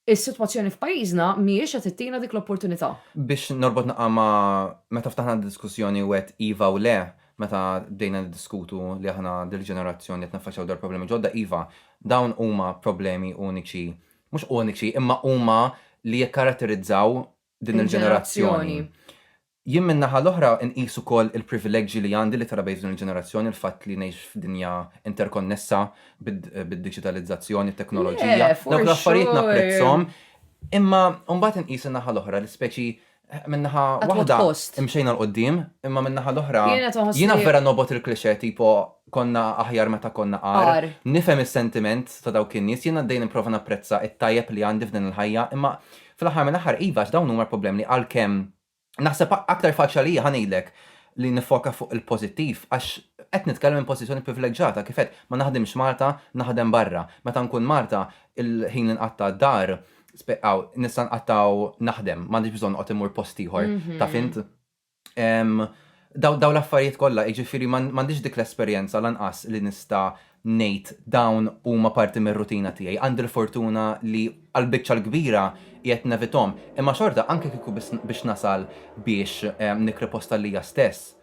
[SPEAKER 4] Is-sitwazzjoni f'pajjiżna mhijiex qed ittina dik l-opportunità. Biex norbot naqra
[SPEAKER 6] ma' meta ftaħna d-diskussjoni u għedt iva u le meta bdejna niddiskutu li aħna din il-ġenerazzjoni qed niffaċċjaw dawn il-problemi ġodda, iva, dawn huma problemi uniċi, mhux uniċi, imma huma li jikkaratterizzaw din il-ġenerazzjoni. Il-ġenerazzjoni. Jien min-naħa l-oħra nqis ukoll il-privileġġi li għandi li trabejt f'din il-ġenerazzjoni, il-fatt li ngħix f'dinja interkonnessa bid-diġitalizzazzjoni, it-teknoloġija. Dawk l-affarijiet
[SPEAKER 4] napprezzhom.
[SPEAKER 6] Imma mbagħad inqis in-naħa l-oħra li speċi min-naħa waħda
[SPEAKER 4] imxejna 'l
[SPEAKER 6] quddiem, imma min-naħa l-oħra jiena vera
[SPEAKER 4] nobgħod il-cliché
[SPEAKER 6] tipo konna aħjar meta konna agħar. Nifhem
[SPEAKER 4] is-sentiment
[SPEAKER 6] ta' dawk in-nies, jien għaddej nipprova napprezza t-tajjeb li għandi f'din il-ħajja, imma fl-aħħar mill-aħħar iva għax dawn huma l-problemi li għalkemm Naħseb aktar faċli għalija, ħa ngħidlek, li niffoka fuq il-pożittiv għax qed nitkellem minn pożizzjoni privileġġata, kif għedt, ma naħdimx Malta, naħdem barra. Meta nkun Malta, il-ħin li nqatta' d-dar, aw, nista' nqattgħu naħdem, m'għandix bżonn noqgħod immur post ieħor, taf int. Dawn l-affarijiet kollha, jiġifieri m'għandix dik l-esperjenza lanqas li nista' ngħid dawn huma parti mir-rutina tiegħi. Għandi l-fortuna li għall-biċċa l-kbira qiegħed nevithom. Imma xorta, anke kieku biss biex nasal biex nikri post għalija stess,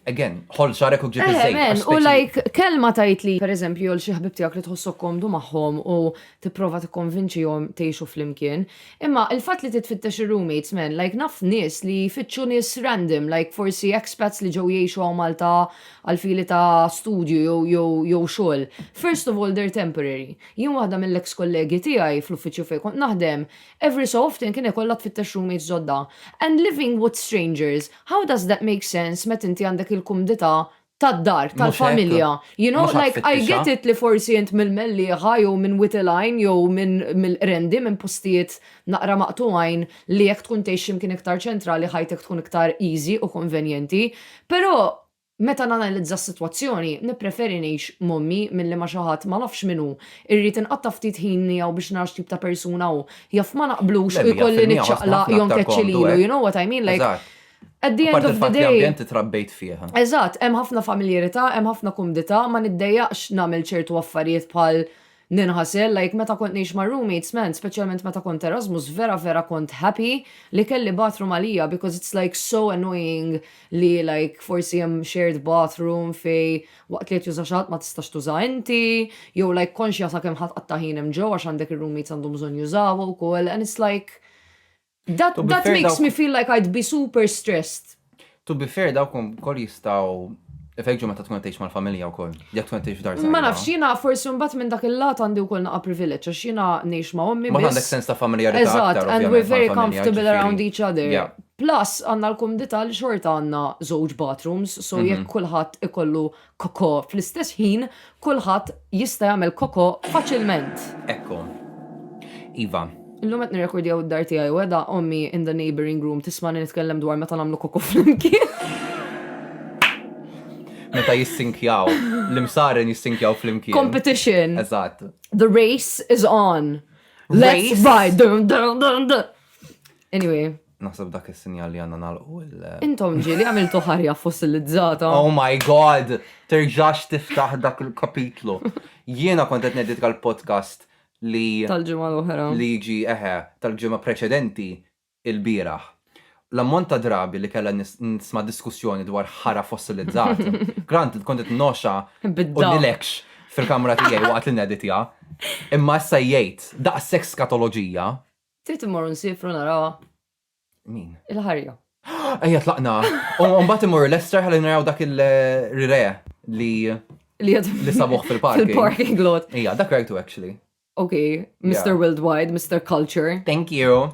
[SPEAKER 6] again, ħoll xagħrek u ġib iż-żejt għax speċi. U like
[SPEAKER 4] kelma
[SPEAKER 6] tgħid
[SPEAKER 4] li pereżempju jew xi ħbieb tiegħek li tħossok komdu magħhom u tipprova tikkonvinċihom tgħixu flimkien. Imma il-fatt li titfittex ir-roommates man, like naf nies li jfittxu nies random, like forsi expats li ġew jgħixu hawn Malta għal fili ta' studju jew xogħol. First of all they're temporary. Jien waħda mill-ex kollegi tiegħi fl-uffiċċju fejn kont naħdem, every so often kien ikollha tfittex roommates ġodda. And living with strangers, how does that make sense meta inti għandek il-kumdità tad-dar, tal-familja. You know, like, I get it li forsi int mill-Mellieħa jew minn Wied il-Għajn jew mill-Qrendi, minn postijiet naqra maqtugħin li jekk tkun tgħix xi mkien iktar ċentrali ħajtek tkun iktar easy u konvenjenti, però meta nanalizza s-sitwazzjoni, nippreferi ngħix m'ommi milli ma' xi ħadd ma nafx min hu, irrid inqatta' ftit ħin miegħu biex nara x'tip ta' persuna hu, jaf ma naqblux u jkolli niċċaqlaq jew nkeċċi lilu, you
[SPEAKER 6] know what I
[SPEAKER 4] mean, like, At the end of the
[SPEAKER 6] day. Apparti
[SPEAKER 4] l-fatt li ambjent li
[SPEAKER 6] trabbejt
[SPEAKER 4] fih.
[SPEAKER 6] Eżatt, hemm ħafna
[SPEAKER 4] familjarità, hemm ħafna kumdità, ma niddejjaqx nagħmel ċertu affarijiet bħal ninħasel, like meta kont ngħix mar-roommates, man, speċjalment meta kont Erasmus, vera vera kont happy li kelli bathroom għalija because it's like so annoying li like forsi hemm shared bathroom fej waqt li qed juża xi ħadd ma tistax tuża inti, jew like konxja sakemm ħa tqatta' ħin hemm ġewwa għax għandek ir-roommates għandhom bżonn jużawha wkoll and it's like That, To be that fair, makes dawk- me feel like I'd be super stressed. To be fair,
[SPEAKER 6] dawk ukoll jistgħu ifeġġu meta tkun qed tgħix mal-familja wkoll. Jekk tkun qed tgħix f'dar Ma żgħira. nafx, jiena forsi
[SPEAKER 4] mbagħad minn dak il-lat għandi wkoll naqa' privileġġ għax jiena ngħix ma' ommi Ma biss. għandek sens ta' familjarità
[SPEAKER 6] Eżatt, aktar, and we're ovvjament, very
[SPEAKER 4] mal-familja, comfortable
[SPEAKER 6] ġifieri- around each other.
[SPEAKER 4] Yeah. Plus,
[SPEAKER 6] għanna
[SPEAKER 4] l-kumdita li xorta għanna żewġ bathrooms, so Mhm. jekk kulħadd ikollu kokò fl-istess ħin kulħadd jista' jagħmel kokò faċilment. Ekku.
[SPEAKER 6] Iva. Illum qed
[SPEAKER 4] nirrekordjaw id-dar tiegħi u qiegħda ommi in the neighbouring room tismagħni nitkellem dwar meta nagħmlu kokò flimkien.
[SPEAKER 6] Meta jissinkjaw. L-imsaren jissinkjaw flimkien. Competition. Eżatt.
[SPEAKER 4] The
[SPEAKER 6] race
[SPEAKER 4] is on. Let's Race.
[SPEAKER 6] ride. Dun,
[SPEAKER 4] dun, dun, dun. Anyway. Naħseb b'dak
[SPEAKER 6] is-sinjal li għandna nagħlqu l. Intom ġieli għamiltu
[SPEAKER 4] ħarja fossilizzata. Oh my God!
[SPEAKER 6] Terġax tiftaħ dak il-kapitlu. Jiena kont qed ngħidlek għall-podcast li. Tal-ġimgħa l-oħra.
[SPEAKER 4] Li jiġi eħe,
[SPEAKER 6] tal-ġimgħa preċedenti ilbieraħ. L-ammont ta' drabi li kellha nisma' diskussjoni dwar ħara fossilizzat. Granted, kont qed noxa u nilekx
[SPEAKER 4] fil-kamra
[SPEAKER 6] tiegħi waqt li neditja. Imma issa jgħid daqshekk skatoloġija. Trid immorru
[SPEAKER 4] nsifru narawha. Min?
[SPEAKER 6] Il-ħarja.
[SPEAKER 4] Ejja tlaqna.
[SPEAKER 6] U mbagħad immorru Lester ħalli naraw dak il-rire li li li sabuħ fil-parking. Fil-parking lot. Ija,
[SPEAKER 4] dak rajtu actually.
[SPEAKER 6] Ok,
[SPEAKER 4] Mr. Worldwide, Mr. Culture. Thank you.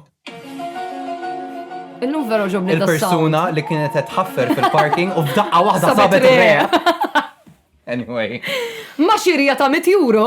[SPEAKER 4] Illum vera ġobni Il-persuna li kienet
[SPEAKER 6] tħaffer fil-parking u f'daqqa waħda sabet Anyway. Ma
[SPEAKER 4] xirja ta' 100 euro.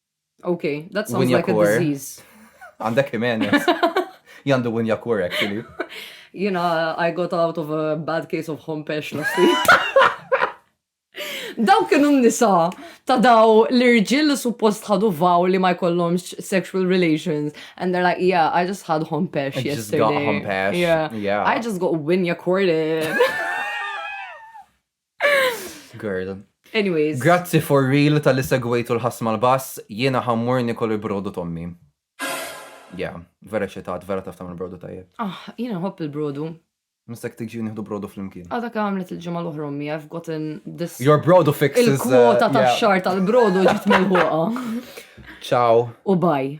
[SPEAKER 4] Ok, that sounds Winja like a Core. disease. Għandek
[SPEAKER 6] Jimenez. Jandu Winja Core, actually. Jina,
[SPEAKER 4] I got out of a bad case of home pesh last week. Daw kienu nisa ta' daw l-irġil li suppost ħadu vaw li ma jkollhomx sexual relations. And they're like, yeah, I just had home pesh I just yesterday. got home
[SPEAKER 6] pesh. Yeah. Yeah. I just got winya
[SPEAKER 4] corded.
[SPEAKER 6] Girl. Anyways.
[SPEAKER 4] Grazzi for real
[SPEAKER 6] tal-li segwejtu l-ħasma l-bass, jiena ħammur nikol il-brodu tommi. Ja, vera ċetat, vera taftam il-brodu tajjeb. Ah, jiena nħobb il-brodu.
[SPEAKER 4] Mistek tiġi
[SPEAKER 6] nieħdu brodu fl-imkien. Għadak għamlet il-ġimgħa
[SPEAKER 4] l-oħra ommi, I've gotten this. Your brodu fix is.
[SPEAKER 6] Il-kwota uh, ta'
[SPEAKER 4] xar tal-brodu
[SPEAKER 6] ġiet
[SPEAKER 4] mill-ħuqa. Ciao.
[SPEAKER 6] U
[SPEAKER 4] bye.